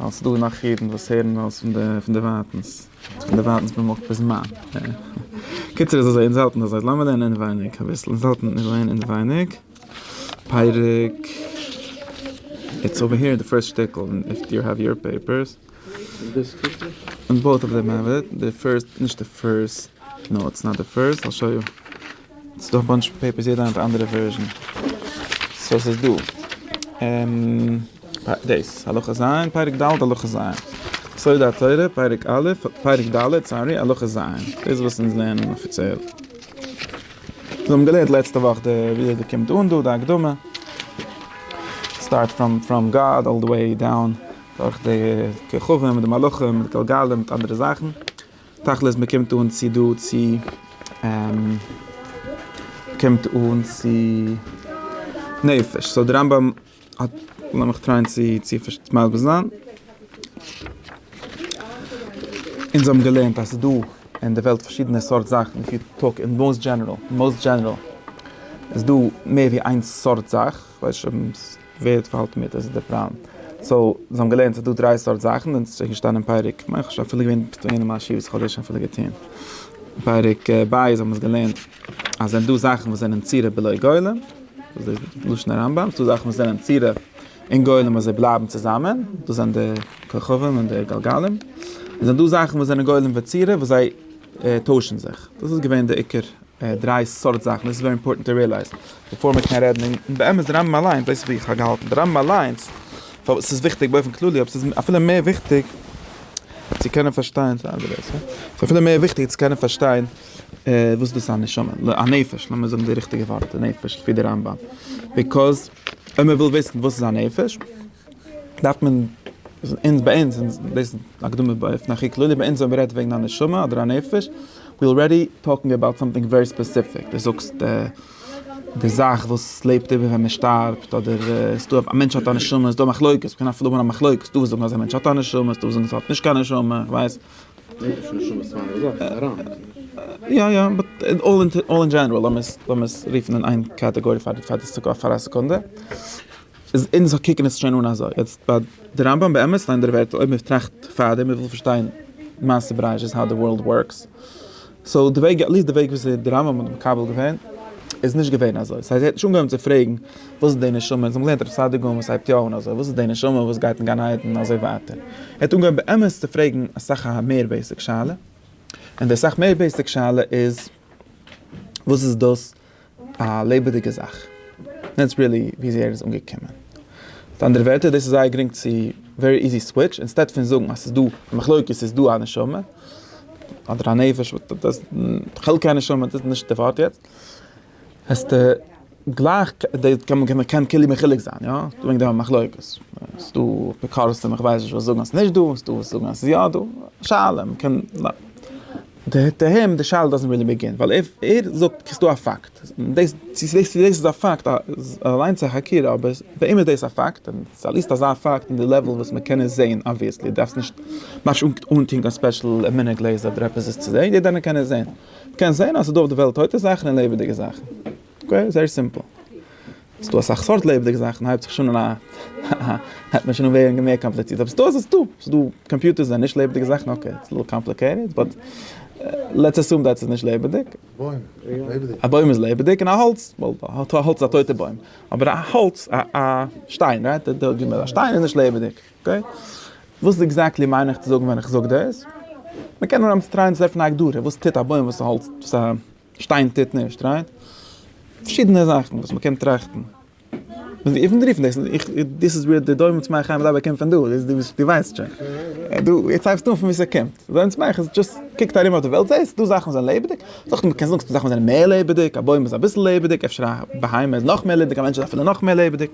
ווייל ס'איז דא גענאך אידן וואס הערן אלס פון די ווייטענס, פון די ווייטענס במק' בזמן. קיצור איז אזוי, אונז האלטן אזוי, לאמיר לערנען אינעווייניג אביסל, אונז האלטן מיר לערנען אינעווייניג פרק, איטס אווער העיר אין די פירסט שטיקל, איף יו העוו יור פעיפערס, און בויט אוו דעם האב איט, די פירסט, נישט די פירסט, נאו איטס נאט די פירסט, איל שאו יו, ס'איז דא א באנטש פעיפערס יעדער נעמט א אנדערע ווערזשען סאו ס'איז דא דאס הלכה ז' פרק ד' הלכה ז' סוד התורה פרק א' פרק ד' סארי הלכה ז' דאס וואס אונז לערנען אפיציעל מיר האבן געלערנט לעצטע וואך די וויאזוי די קומט אן דא די הקדמה סטארט פראם פראם גאד אלל די וועי דאון דורך די כוכבים מיט די מלאכים מיט די גלגלים מיט אנדערע זאכן. תכלית מען קומט אן צו דא צו קומט אן צו נפש סאו די רמב ם האט לאמיך טרייען צו צו מסביר זיין. אונז האבן געלערנט אז ס'איז דא אין די וועלט פארשידענע סארט זאכן איף יו טאלק אין מאוסט דזשענעראל, מאוסט דזשענעראל, איז דא מער ווי איין סארט זאך. ווער האט פארהאלטן מיט אז די פריים סאו זיי האבן געלערנט אז ס'איז דא דריי סארט זאכן און ס'איז געשטאנען אין פרק כ'מיין כ'האב שוין אפילו געווען אין א מאשיב וואס כ'האב דאס שוין אפילו געטוהן פרק ב' האבן מיר עס געלערנט אז ס'זענען דא זאכן וואס זענען צורה בלא גולם וואס דאס איז לשון הרמב ם ס'דא זאכן וואס זענען צורה און גולם און זיי בלייבן צוזאמען דאס זענען די כוכבים און די גלגלים און ס'זענען דא זאכן וואס זענען גולם וצורה וואס זיי טוישן זיך דאס איז געווען די עיקר דריי סארט זאכן, דאס איז ווערי אימפארטענט טו רעלייז בעפאר מען קען רעדן, און באמת די רמב ם אליינס, דאס איז ווי איך האב געהאלטן, די רמב ם אליינס, פארוואס ס'איז וויכטיג באופן כללי, אבער ס'איז אפילו מער וויכטיג צו קענען פארשטיין, ס'איז אפילו מער וויכטיג צו קענען פארשטיין וואס דאס איז א נשמה, א נפש, לאמיר זאגן די ריכטיגע ווארט, נפש, לפי די רמב ם, ביקאז אויב מען וויל וויסן וואס איז א נפש, דארף מען אונז ביי אונז אונז דאס הקדמה ביי אופן הכי כללי ביי אונז ווען מ'רעדט וועגן א נשמה אדער א נפש ווי אלרעדי טאלקינג אבאוט סאמטינג ווערי ספעסיפיק די זאגסט די זאך וואס לעבט איבער ווען מ'שטארבט אדער איז דא א מענטש האט א נשמה איז דא מחלוקת מ'קען אפילו האבן א מחלוקת ס'דא וואס זאגן אז א מענטש האט א נשמה איז דא וואס זאגן אז ער האט נישט קיין נשמה איך ווייס יא יא באט אין אלל און אלל אין דזשענעראל לאמיר עס לאמיר עס רופן אין איין קאטעגארי פאר פאר די סעק אוו פאר א סעקונדע. איז אונז קוקן עס שוין אן אזוי. יעצט ביי די רמב ם באמת ליינט דער ווערטעל אויב מען טראכט פארדעם מען וויל פארשטיין מעשה בראשית האו די ווארלד ווארקס. סאו די וועג עטליסט די וועג וואס די רמב ם האט מקבל געווען איז נישט געווען אזוי. ס'הייסט ער האט נישט אנגעהויבן צו פרעגן וואס איז די נשמה אונז האבן געלערנט ר' סעדיגורא וואס הייבט יא אן אזוי וואס איז די נשמה וואס גייט אין גן עדן אזוי ווייטער. ער האט אנגעהויבן באמת צו פרעגן אסאך א מער בעיסיק שאלה. און די אסאך מער בעיסיק שאלה איז וואס איז דאס א לעבעדיגע זאך. דעטס ריעלי וויאזוי ער איז אנגעקומען. מיט אנדערע ווערטער, דאס איז זייער גרינג צו ווערי איזי סוויטש, אינסטעד פון זאגן אז ס'איז דא א מחלוקת, ס'איז דא א נשמה, אדער א נפש, חלקי הנשמה, דאס איז נישט די ווארט יעצט, העסטו גלייך, מען קען כאילו מחולק זיין, יא, ס'איז דא וועגן דעם א מחלוקת, ס'איז דא אפיקורסים, איך ווייס נישט וואס זאגן אז ס'איז נישט דא, ס'איז דא וואס זאגן אז ס'איז יא דא, א שאלה, מען קען. טו הים די שאלה דאזענט רילי בעגין, ווייל ער ער זאגט ס'איז דא א פאקט, דאס צו דאס איז א פאקט אליינס איז א חקירה, אבער פאר אים איז דאס א פאקט, און ס'איז אליסט אזא פאקט אין די לעוועל וואס מ'קען עס זעהן אבוויעסלי, דארפסט נישט ממש אנטוהן קיין ספעשל מינע גלעזער אדער עפעס עס צו זעהן, יעדער איינער קען עס זעהן, מ'קען זעהן אז ס'איז דא אויף די וועלט טויטע זאכן און לעבעדיגע זאכן. אקעי, זייער סימפל. ס'איז דא אסאך סארט לעבעדיגע זאכן, הייבט זיך שוין אן א הייבט מען שוין אן ווערן מער קאמפליצירט, אבער ס'דא איז דא, ס'איז דא קאמפיוטערס זענען נישט לעבעדיגע זאכן, אקעי, איטס ליטעל קאמפליקעיטעד, באט לעטס אסום דעט ס'איז נישט לעבעדיג. א בוים איז לעבעדיג, און א האלץ, ווייל א האלץ איז א טויטע בוים, אבער א האלץ, א שטיין, רייט, א שטיין איז נישט לעבעדיג, אקעי? וואס עקזעקטלי מיין איך צו זאגן ווען איך זאג דאס? מ'קען נאר אמצער טרייען צו טרעפן א הגדרה, וואס טוט א בוים, וואס א האלץ, וואס א. שטיין טוט נישט, רייט? פארשידענע זאכן וואס מ'קען טראכטן. דאס איז וואו די דומם צמח חיים ודבק קומט פון דא, דו ווייסט שוין. דו, יעצט הייבסטו אן פון וואו ס'קומט. דומם צמח איז דזשאסט, קוקט ארום אויף די וועלט זעהסט דא זאכן וואס זענען לעבעדיג, זאכן, מ'קען זאגן ס'דא זאכן וואס זענען מער לעבעדיג, א בוים איז אביסל לעבעדיג, אפשר א בהמה איז נאך מער לעבעדיג, א מענטש איז אפילו נאך מער לעבעדיג.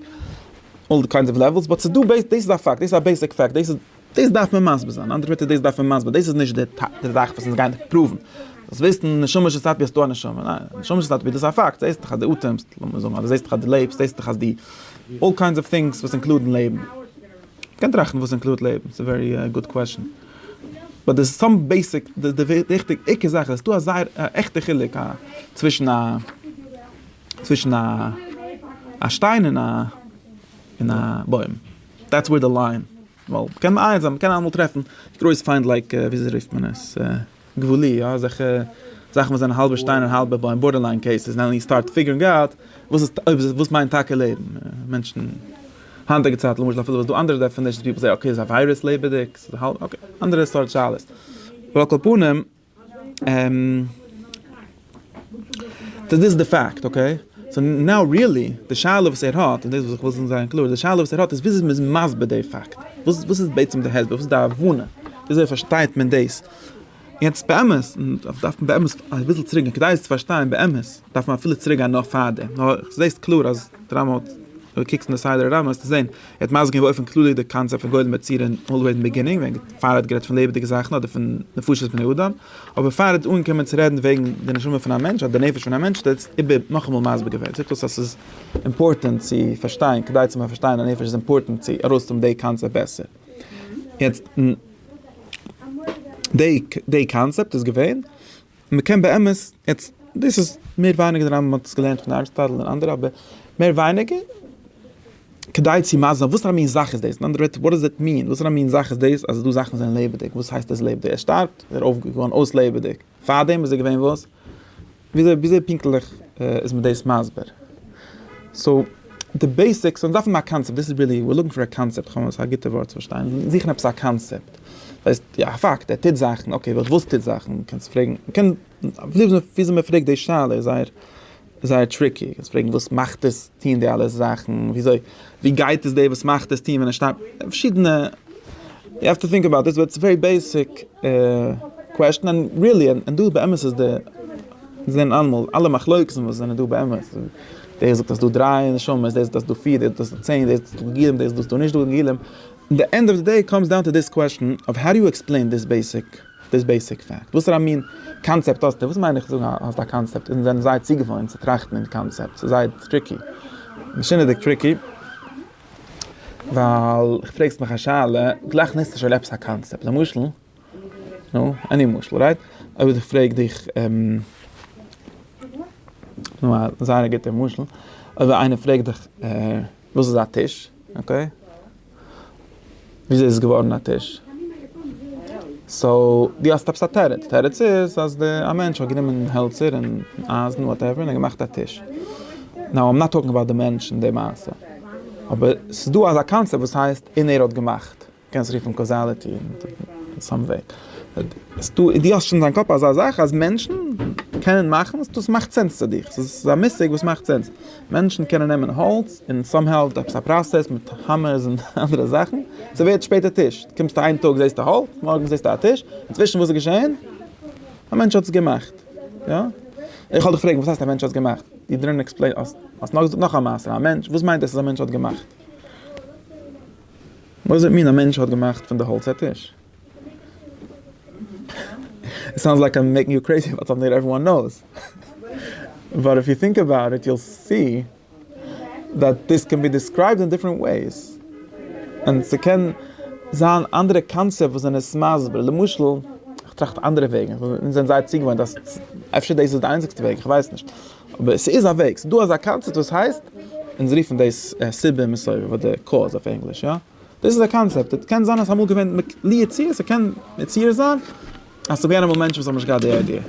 אלל קיינס אוו לעוועלס, באט ס'דא, דאס איז א פאקט, דאס איז א בעיסיק פאקט, דאס איז. דאס דארף מען מסביר זיין, אנדערע ווערטער דאס דארף מען מסביר, דאס איז נישט די די זאך וואס אונז גייען דיך פראוון, דאס וויסן נשמה של סאטמער אז ס'דא א נשמה, ניין, נשמה של סאטמער דאס איז א פאקט, זעהסט דאך אז די אטעמסט, לאמיר זאגן אז די זעהסט דאך אז די לעבסט, זעהסט דאך אז די, אלל קיינדס אוו טינגס וואס אינקלודן לעבן, מ'קען טראכטן וואס אינקלודט לעבן, ס'איז ווערי גוד קוועשאן, באט די סאם בעיסיק, די די וויכטיג עיקר זאך איז אז ס'דא א זייער א עכטע חילוק א צווישן א צווישן א א שטיין און א און א בוים. דעטס וועיר די ליין, ווייל קען מען איינזען, מ'קען אלעמאל טרעפן גרויס פיינט לייק וויאזוי רופט מען עס? גבולי, יא אזעלכע זאכן וואס זענען האלבע שטיין און האלבע בוים, בארדער ליין קעיסעס, נאו יו סטארט פיגערינג אוט וואס איז אויב וואס מיינט טאקע לעבן, מענטשן היינטיגע צייט למשל אפילו וואס איז דא אנדערע דעפענישענס פיפל זעי אקעי איז א וויירוס לעבעדיג, אקעי אנדערע סארט שאלות, אבער על כל פנים. סאו דאס איז די פאקט אקעי. סאו נאו ריעלי די שאלה וואס ער האט, און דאס וואס איך וויל זיין קלאר, די שאלה וואס ער האט איז וויאזוי מ'איז מסביר די פאקט. וואס וואס איז בעצם די הסבר? וואס איז די הבנה? וויאזוי פארשטייט מען דאס? יעצט באמת, און דאס דארף מען באמת אביסל צוריקגיין כדי עס צו פארשטיין באמת, דארף מען אפילו צוריקגיין נאך פאר דעם. נאר זעהסט קלאר אז די רמב ם, אויב קוקסט אין די סדר הרמב ם וועסטו זעהן. ער האט מסביר געווען באופן כללי די קאנצעפט פון גולם יצירה און אלוועיס אין ביגינינג, ווען פאר ער האט גערעדט פון לעבעדיגע זאכן אדער פון נפשות בני אדם, אבער פאר ער האט אנגעקומען צו רעדן וועגן די נשמה פון א מענטש אדער די נפש פון א מענטש האט ער עס איבער נאכאמאל מסביר געווען, ער זאגט אויס אז ס'איז אימפארטענט צו פארשטיין, כדי צו מען פארשטיין א נפש איז אימפארטענט צו ארויסהאבן די קאנצעפט בעסער. יעצט, די קאנצעפט איז געווען. מען קען באמת, יעצט דאס איז מער ווייניגער די רמב ם האט עס געלערנט פון אריסטאטל און אנדערע אבער מער ווייניגער כדי צו מסביר זיין וואס פאר א מין זאך איז דאס, אין אנדערע ווערטער וואט דאז איט מין, וואס פאר א מין זאך איז דאס אז דא זאכן זענען לעבעדיג, וואס הייסט עס לעבעדיג, ער שטארבט, ער אויף געווארן אויס לעבעדיג, פארדעם איז ער געווען וואס? וויאזוי וויאזוי פונקטליך איז מען דאס מסביר? סאו. די בעיסיקס, אונז דארפן א קאנצעפט, דאס איז ריעלי, וויר לוקינג פאר א קאנצעפט, כ'האב נישט א גוטע ווארט צו באשטייען, מיר זוכן עפעס א קאנצעפט, ס'הייסט יא, א פאקט, ער טוט זאכן, אקעי, אבער וואס טוט זאכן? מען קען זיך פרעגן, מען קען, וויאזוי מען פרעגט די שאלה איז זייער זייער טריקי, מ'קען זיך פרעגן וואס מאכט עס טון די אלע זאכן, וויאזוי, ווי גייט עס דער וואס מאכט עס טון ווען ער שטייט, פארשידענע, יו העוו טו טינק אבאוט דיס, באט ס'איז א ווערי בעיסיק קוועסטשן, און ריעלי, און דא באמת איז די, מיר זעען אלעמאל, אלע מחלוקת'ן וואס זענען דא באמת. דער זאגט אז דא דריי נשמות, דער זאגט אז דא פיר, דער זאגט אז דא צען, דער זאגט אז דא גלגלים, דער זאגט אז דא נישט דא גלגלים, אין די ענד אוו די דעי קאמס דאון טו דיס קוועשאן אוו האו דו יו עקספלעין דיס בעיסיק דיס בעיסיק פאקט, וואסערע מין קאנצעפט האסטו, וואס מיין איך זאגן האסט א קאנצעפט, אונז זענען זייער צוגעוואוינט צו טראכטן אין קאנצעפטס, ס'איז זייער טריקי, משונה'דיג טריקי, ווייל איך פרעגסט מיך א שאלה, גלייך נעמסטו שוין עפעס א קאנצעפט, למשל. נו, עני משל, רייט? אויב איך פרעג דיך, נו א זייער א גוטער משל, אויב איינער פרעגט דיך וואס איז א טיש, אקעי? וויאזוי איז עס געווארן א טיש? סאו, דו האסט עפעס א תירוץ, תירוץ איז אז די, א מענטש האט גענומען העלצער און אייזן וואטעווער און געמאכט א טיש. נאו איים נאט טאלקינג אבאוט די מענטש און די מעשה. אבער ס'איז דא אזא קאנצעפט וואס הייסט און ער האט געמאכט. קענסט רופן קאזאליטי אין סאם וועי. דו האסט שוין אין דיין קאפ אזא זאך אז מענטשן קענען מאכן דאס מאכט סענס צו דיך. ס'איז א מושג וואס מאכט סענס. מענטשן קענען נעמען האלץ און סאם האו עפעס א פראסעס מיט האמערס און אנדערע זאכן, ס'ווערט שפעטער טיש. קומסטו איין טאג זעסטו האלץ, מארגן זעסטו א טיש. אינצווישן וואס איז געשען? א מענטש האט עס געמאכט. יא? איך וועל דיך פרעגן, וואס הייסט א מענטש האט עס געמאכט? יו דידנט עקספלעין, האסט נאר געזאגט נאך א מעשה. א מענטש, וואס מיינט דאס אז א מענטש האט געמאכט? וואס זעט מין א מענטש האט געמאכט פון די האלץ א טיש? איט סאונדס לייק איים מעיקינג יו קרעיזי באט סאמטינג דעט עוועריוואן נאוס. באט איף יו טינק אבאוט איט יו סי דעט דיס קען בי דיסקרייבד אין דיפרענט וועיס. און ס'קען זיין אנדערע קאנצעפט וואס זענען עס מסביר. למשל, כ'טראכט אנדערע וועגן. אונז זענען זייער צוגעוואוינט אז אפשר דאס איז די איינציגסטע וועג, כ'ווייס נישט. אבער ס'איז א וועג, ס'דא אזא קאנצעפט וואס הייסט, אונז רופן דאס סיבה מסובב אדער קאוז אויף ענגליש יא, דאס איז א קאנצעפט, עס קען זיין אז ס'אמאל געווען לי עצה, ס'קען מציאות זיין אז ס'איז געווען אמאל מענטשן וואס האבן נישט געהאט די איידיע,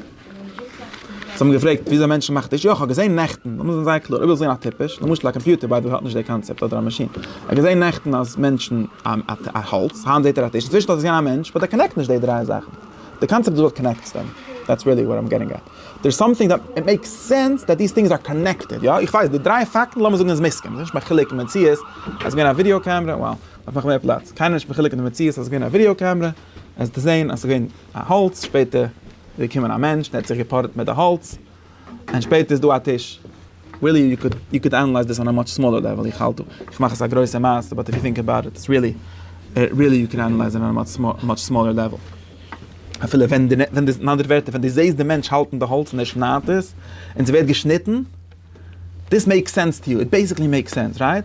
זיי האבן געפרעגט וויאזוי מענטשן מאכט דאס, יא כ'האב געזען נעכטן, לאמיר זיין זייער קלאר, אויב ווילסט זען א טיפש, למשל א קאמפיוטער ביי די וועי האט נישט די קאנצעפט אדער א מאשין, ער האט געזען נעכטן אז מענטשן א האלץ, היינט זעט ער א טיש, אינצווישן האט עס געזען א מענטש, באט ער קאנעקט נישט די דריי זאכן, די קאנצעפט איז וואס קאנעקטס דעם, דעטס ריעלי וואט איים געטינג עט. דער סאמטינג דאט איט מעיקס סענס דאט דיס טינגס אר קאנעקטעד יא איך ווייס די דריי פאקטן לאמיר זאגן איז מסכים ס'איז נישט מחולק אין מציאות אז געווען א ווידיאו קעמרע וואו דארף נאך מער פלאץ קיינער איז נישט מחולק אין די מציאות אז געווען א ווידיאו קעמרע עס צו זעהן אז ס'געווען א האלץ שפעטער איז געקומען א מענטש און ער האט זיך געפארעט מיט די האלץ און שפעטער איז דא א טיש. ריעלי יו קוד יו קוד ענעלייז דיס אן א מאטש סמאלער לעוועל איך האלט דא איך מאך עס א גרויסע מעשה באט איף יו טינק אבאוט איט איטס ריעלי ריעלי יו קען ענעלייז אן א מאטש סמאלער לעוועל אפילו ווען די ווען די אין אנדערע ווערטער ווען די זעהסט די מענטש האלטן די האלץ און ער שניידט עס און ס'ווערט געשניטן דיס מעיקס סענס טו יו איט בעסיקלי מעיקס סענס רייט?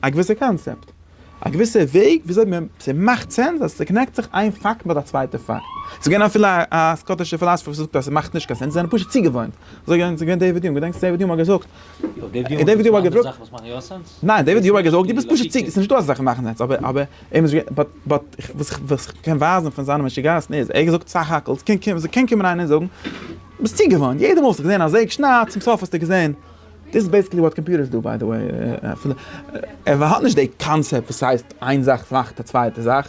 א געוויסע קאנצעפט, א געוויסע וועג וויאזוי מען, ס'מאכט סענס אז ס'קאנעקט זיך איין פאקט מיט א צווייטע פאקט. ס'איז געווען אפילו א סקאטישע פילאזפער וואס האט געזאגט אז ס'מאכט נישט קיין סענס, זיי זענען פשוט צוגעוואוינט. אזוי געווען, ס'איז געווען דעיוויד יונג, געדענקסט דעיוויד יונג האט געזאגט, און דעיוויד יונג האט געזאגט, אנדערע זאכן וואס מאכן יא סענס? ניין, דעיוויד יונג האט געזאגט דו ביסט פשוט צו, ס'איז נישט דא אזא זאך ווי מאכן סענס, אבער, אבער, באט, באט, וואס איך קען ווייזן פון זיינע משוגעת'ן איז, ער האט געזאגט סך הכל, ס'קען קומען איינער און זאגן, דו ביסט צוגעוואוינט, יעדע מאל האסטו געזען א זעג שניידט, צום סוף האסטו געזען, דאס איז בעיסיקלי וואט קאמפיוטערס דו ביי די וועי, אפילו ער האט נישט די קאנצעפט וואס הייסט איין זאך מאכט א צווייטע זאך,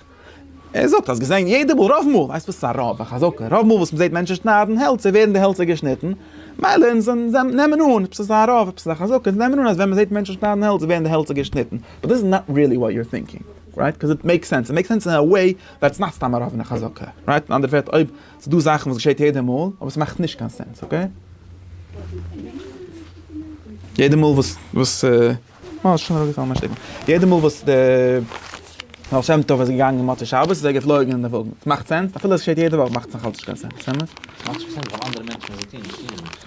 ער זאגט האסט געזען יעדע מאל רוב מאל, ווייסט וואס איז א רוב, א חזקה, רוב מאל וואס מ'זעט מענטשן שניידן העלצער ווערן די העלצער געשניטן, מילא אונז נעמען אן עפעס איז א רוב עפעס איז א חזקה, אונז נעמען אן אז ווען מ'זעט מענטשן שניידן העלצער ווערן די העלצער געשניטן, באט דיס איז נאט ריעלי וואט יו אר טינקינג, רייט? קאוז איט מעיקס סענס, איט מעיקס סענס אין א וועי ווייל עס איז נאכסטאם א רוב און א חזקה, רייט? אין אנדערע ווערטער אויב. ס'דא זאכן וואס געשעט יעדע מאל, אבער ס'מאכט נישט קיין סענס, אקעי? יעדע מאל וואס וואס אה, ס'שוין אראפגעפאלן מיין שטיקל. יעדע מאל וואס די בעל שם טוב איז געגאנגען מוצאי שבת איז ער געפלויגן אין די וואגן. ס'מאכט סענס? אפילו עס געשעט יעדע וואך מאכט עס נאכאלץ נישט קיין סענס, אמת? ס'מאכט נישט קיין סענס ווייל אנדערע מענטשן וואס זיי טוען נישט טוען זיי נישט.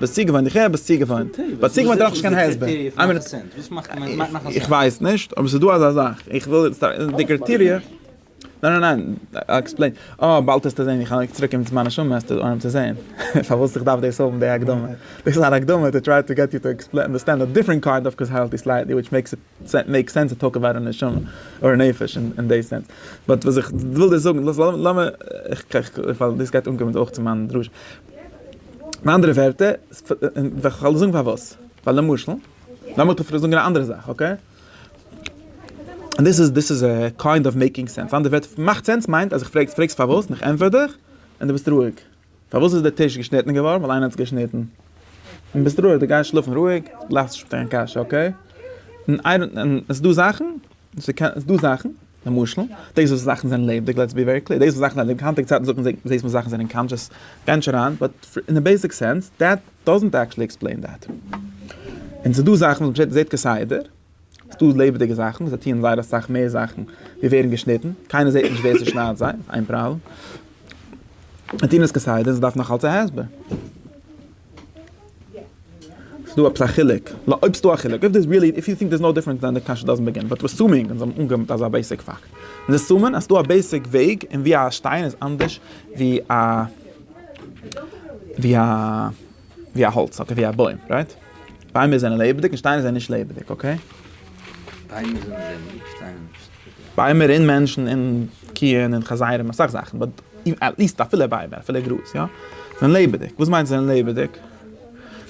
ביסט צוגעוואוינט, איך הער ביסט צוגעוואוינט, ביי צוגעוואוינט דארף איך נישט קיין הסבר, איך ווייס נישט אבער ס'איז דא אזא זאך, איך וויל יעצט די קריטעריע, ניין ניין ניין, איי עקספלעין, אה באלד העסטו זען איך לייג צוריק מיט מיין נשמה העסטו אנהייבן צו זען פארוואס איך דארף דאס האבן די הקדמה, דאס איז אן הקדמה טו טריי טו געט יו טו אנדערסטענד א דיפרענט קארט אויף קאזעלטי סלייטלי וויטש מעיקס איט מעיק סענס טו טאלק אבאוט א נשמה אר נפש אין די סענס, באט וואס איך וויל דיר זאגן, דאס לאמיר, איך פאר דאס גייט אנקומען אויך צו מיין דרשה. אין אנדערע ווערטער, כ'וועל דיר זאגן פארוואס, ווייל למשל, לאמיך דיר זאגן א אנדערע זאך, אקעי? דיס איז דיס איז קיינד אוו מעיקינג סענס, אין אנדערע ווערטער, מאכט סענס מיינט אז כ'פרעג, פרעגסט פארוואס און כ'ענטפער דיך און דו ביסט רואיג. פארוואס איז די טיש געשניטן געווארן? ווייל איינער האט עס געשניטן. און ביסט רואיג, דו גייסט שלאפן רואיג, דו לאכסט נישט מיט קיין קשיא, אקעי? און ס'דא זאכן ס'איז דא זאכן, למשל, דאס וואס זאכן זענען לעבעדיג, לעטס בי ווערי קלעיר, דאס וואס זאכן זענען לעבעדיג, היינטיגע צייטן זאגט מען דאס וואס זאכן זענען קאנטשעס, גיי נישט אריין, באט אין א בעיסיק סענס, דעט דאזענט עקטשעלי עקספלעין דעט. און ס'איז דא זאכן וואס מ'זעט זעט כסדר, ס'איז דא לעבעדיגע זאכן, זיי טוען זייער אסאך מער זאכן, ווי ווערן געשניטן, קיינער זעט נישט ווער ס'שניידט זיי, איין פראבלעם. זיי טוען עס כסדר, זיי דארפן נאכאלץ א הסבר. ס'איז דא עפעס א חילוק? נו אויב ס'דא א חילוק, אויב דאס ריעלי, איף יו טינק דערס נאו דיפערענס דען די קשיא דאזענט בעגין, באט אסומינג אונז האבן אנגענומען אז ס'איז א בעיסיק פאקט, אונז אסומען אז ס'דא א בעיסיק וועג און ווי א שטיין איז אנדערש ווי א ווי א ווי א האלץ אקעי ווי א בוים רייט? ביימער זענען לעבעדיג און שטיינער זענען נישט לעבעדיג אקעי? ביימער און מענטשן און קיען און חזירים אסאך זאכן באט עטליסט אפילו ביימער אפילו גראז יא זענען לעבעדיג וואס מיינט זענען לעבעדיג?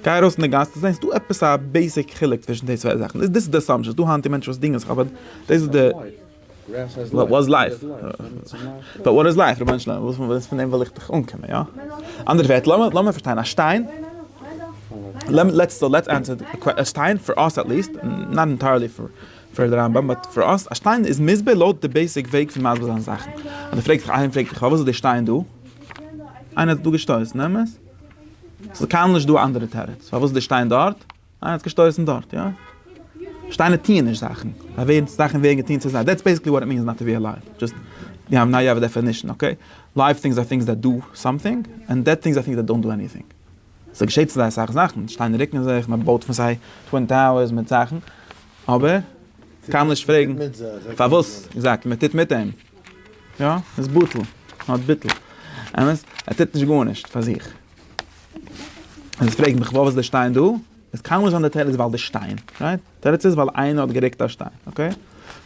גיי ארויס אין די גאס דו זעסט דא עפעס א בעיסיק חילוק צווישן די צוויי זאכן דאס איז די אסאמפשאן ס'דא היינט מענטשן וואס דינגען זיך אבער דאס איז די וואט איז לייף באט וואט איז לייף רבונו של עולם וואס וואס פון דעם וויל איך דיך אנקומען יא אנדערע ווערטער לאמיר לאמיר פארשטיין א שטיין לעטס לעטס ענטפער א שטיין פאר אס עטליסט נאט ענטיירלי פאר. פאר די רמב ם באט פאר אונז א שטיין איז מסביר לויט די בעיסיק וועג פון מסביר זיין זאכן, אז די פרעגסט דיך איינער פרעגט דיך פארוואס איז די שטיין דא? איינער האט עס דא געשטויסן, אמת? ס'איז קיינמאל נישט דא א אנדערע תירוץ, פארוואס איז די שטיין דארט? איינער האט עס געשטויסן דארט, יא? שטיינער טוען נישט זאכן, זיי ווערן, זאכן ווערן געטוען צו זיי, דעטס בעיסיקלי וואט איט מינס נאט טו בי אלייוו, דזשאסט ווי האב נאו אדער דעפענישן, אקעי? לייוו טינגס אר טינגס דעט דא סאמטינג, ענד דעט טינגס אר טינגס דעט דאנט דא עניטינג. ס'געשעט צו זיי אסאך זאכן, שטיינער רוקן זיך, מען בויט פון זיי טווין טאוערס מיט זאכן, אבער כ'קען נישט פרעגן פארוואס עקזעקטלי מען טוט מיט אים. יא, איז בטל, נאט ביטל. אמת, ער טוט נישט גארנישט פאר זיך. און פרעג מיך וואו איז די שטיין דא? עס קען נישט זיין די תירוץ ווייל די שטיין, רייט? די תירוץ איז ווייל איינער האט גערוקט א שטיין, אקעי?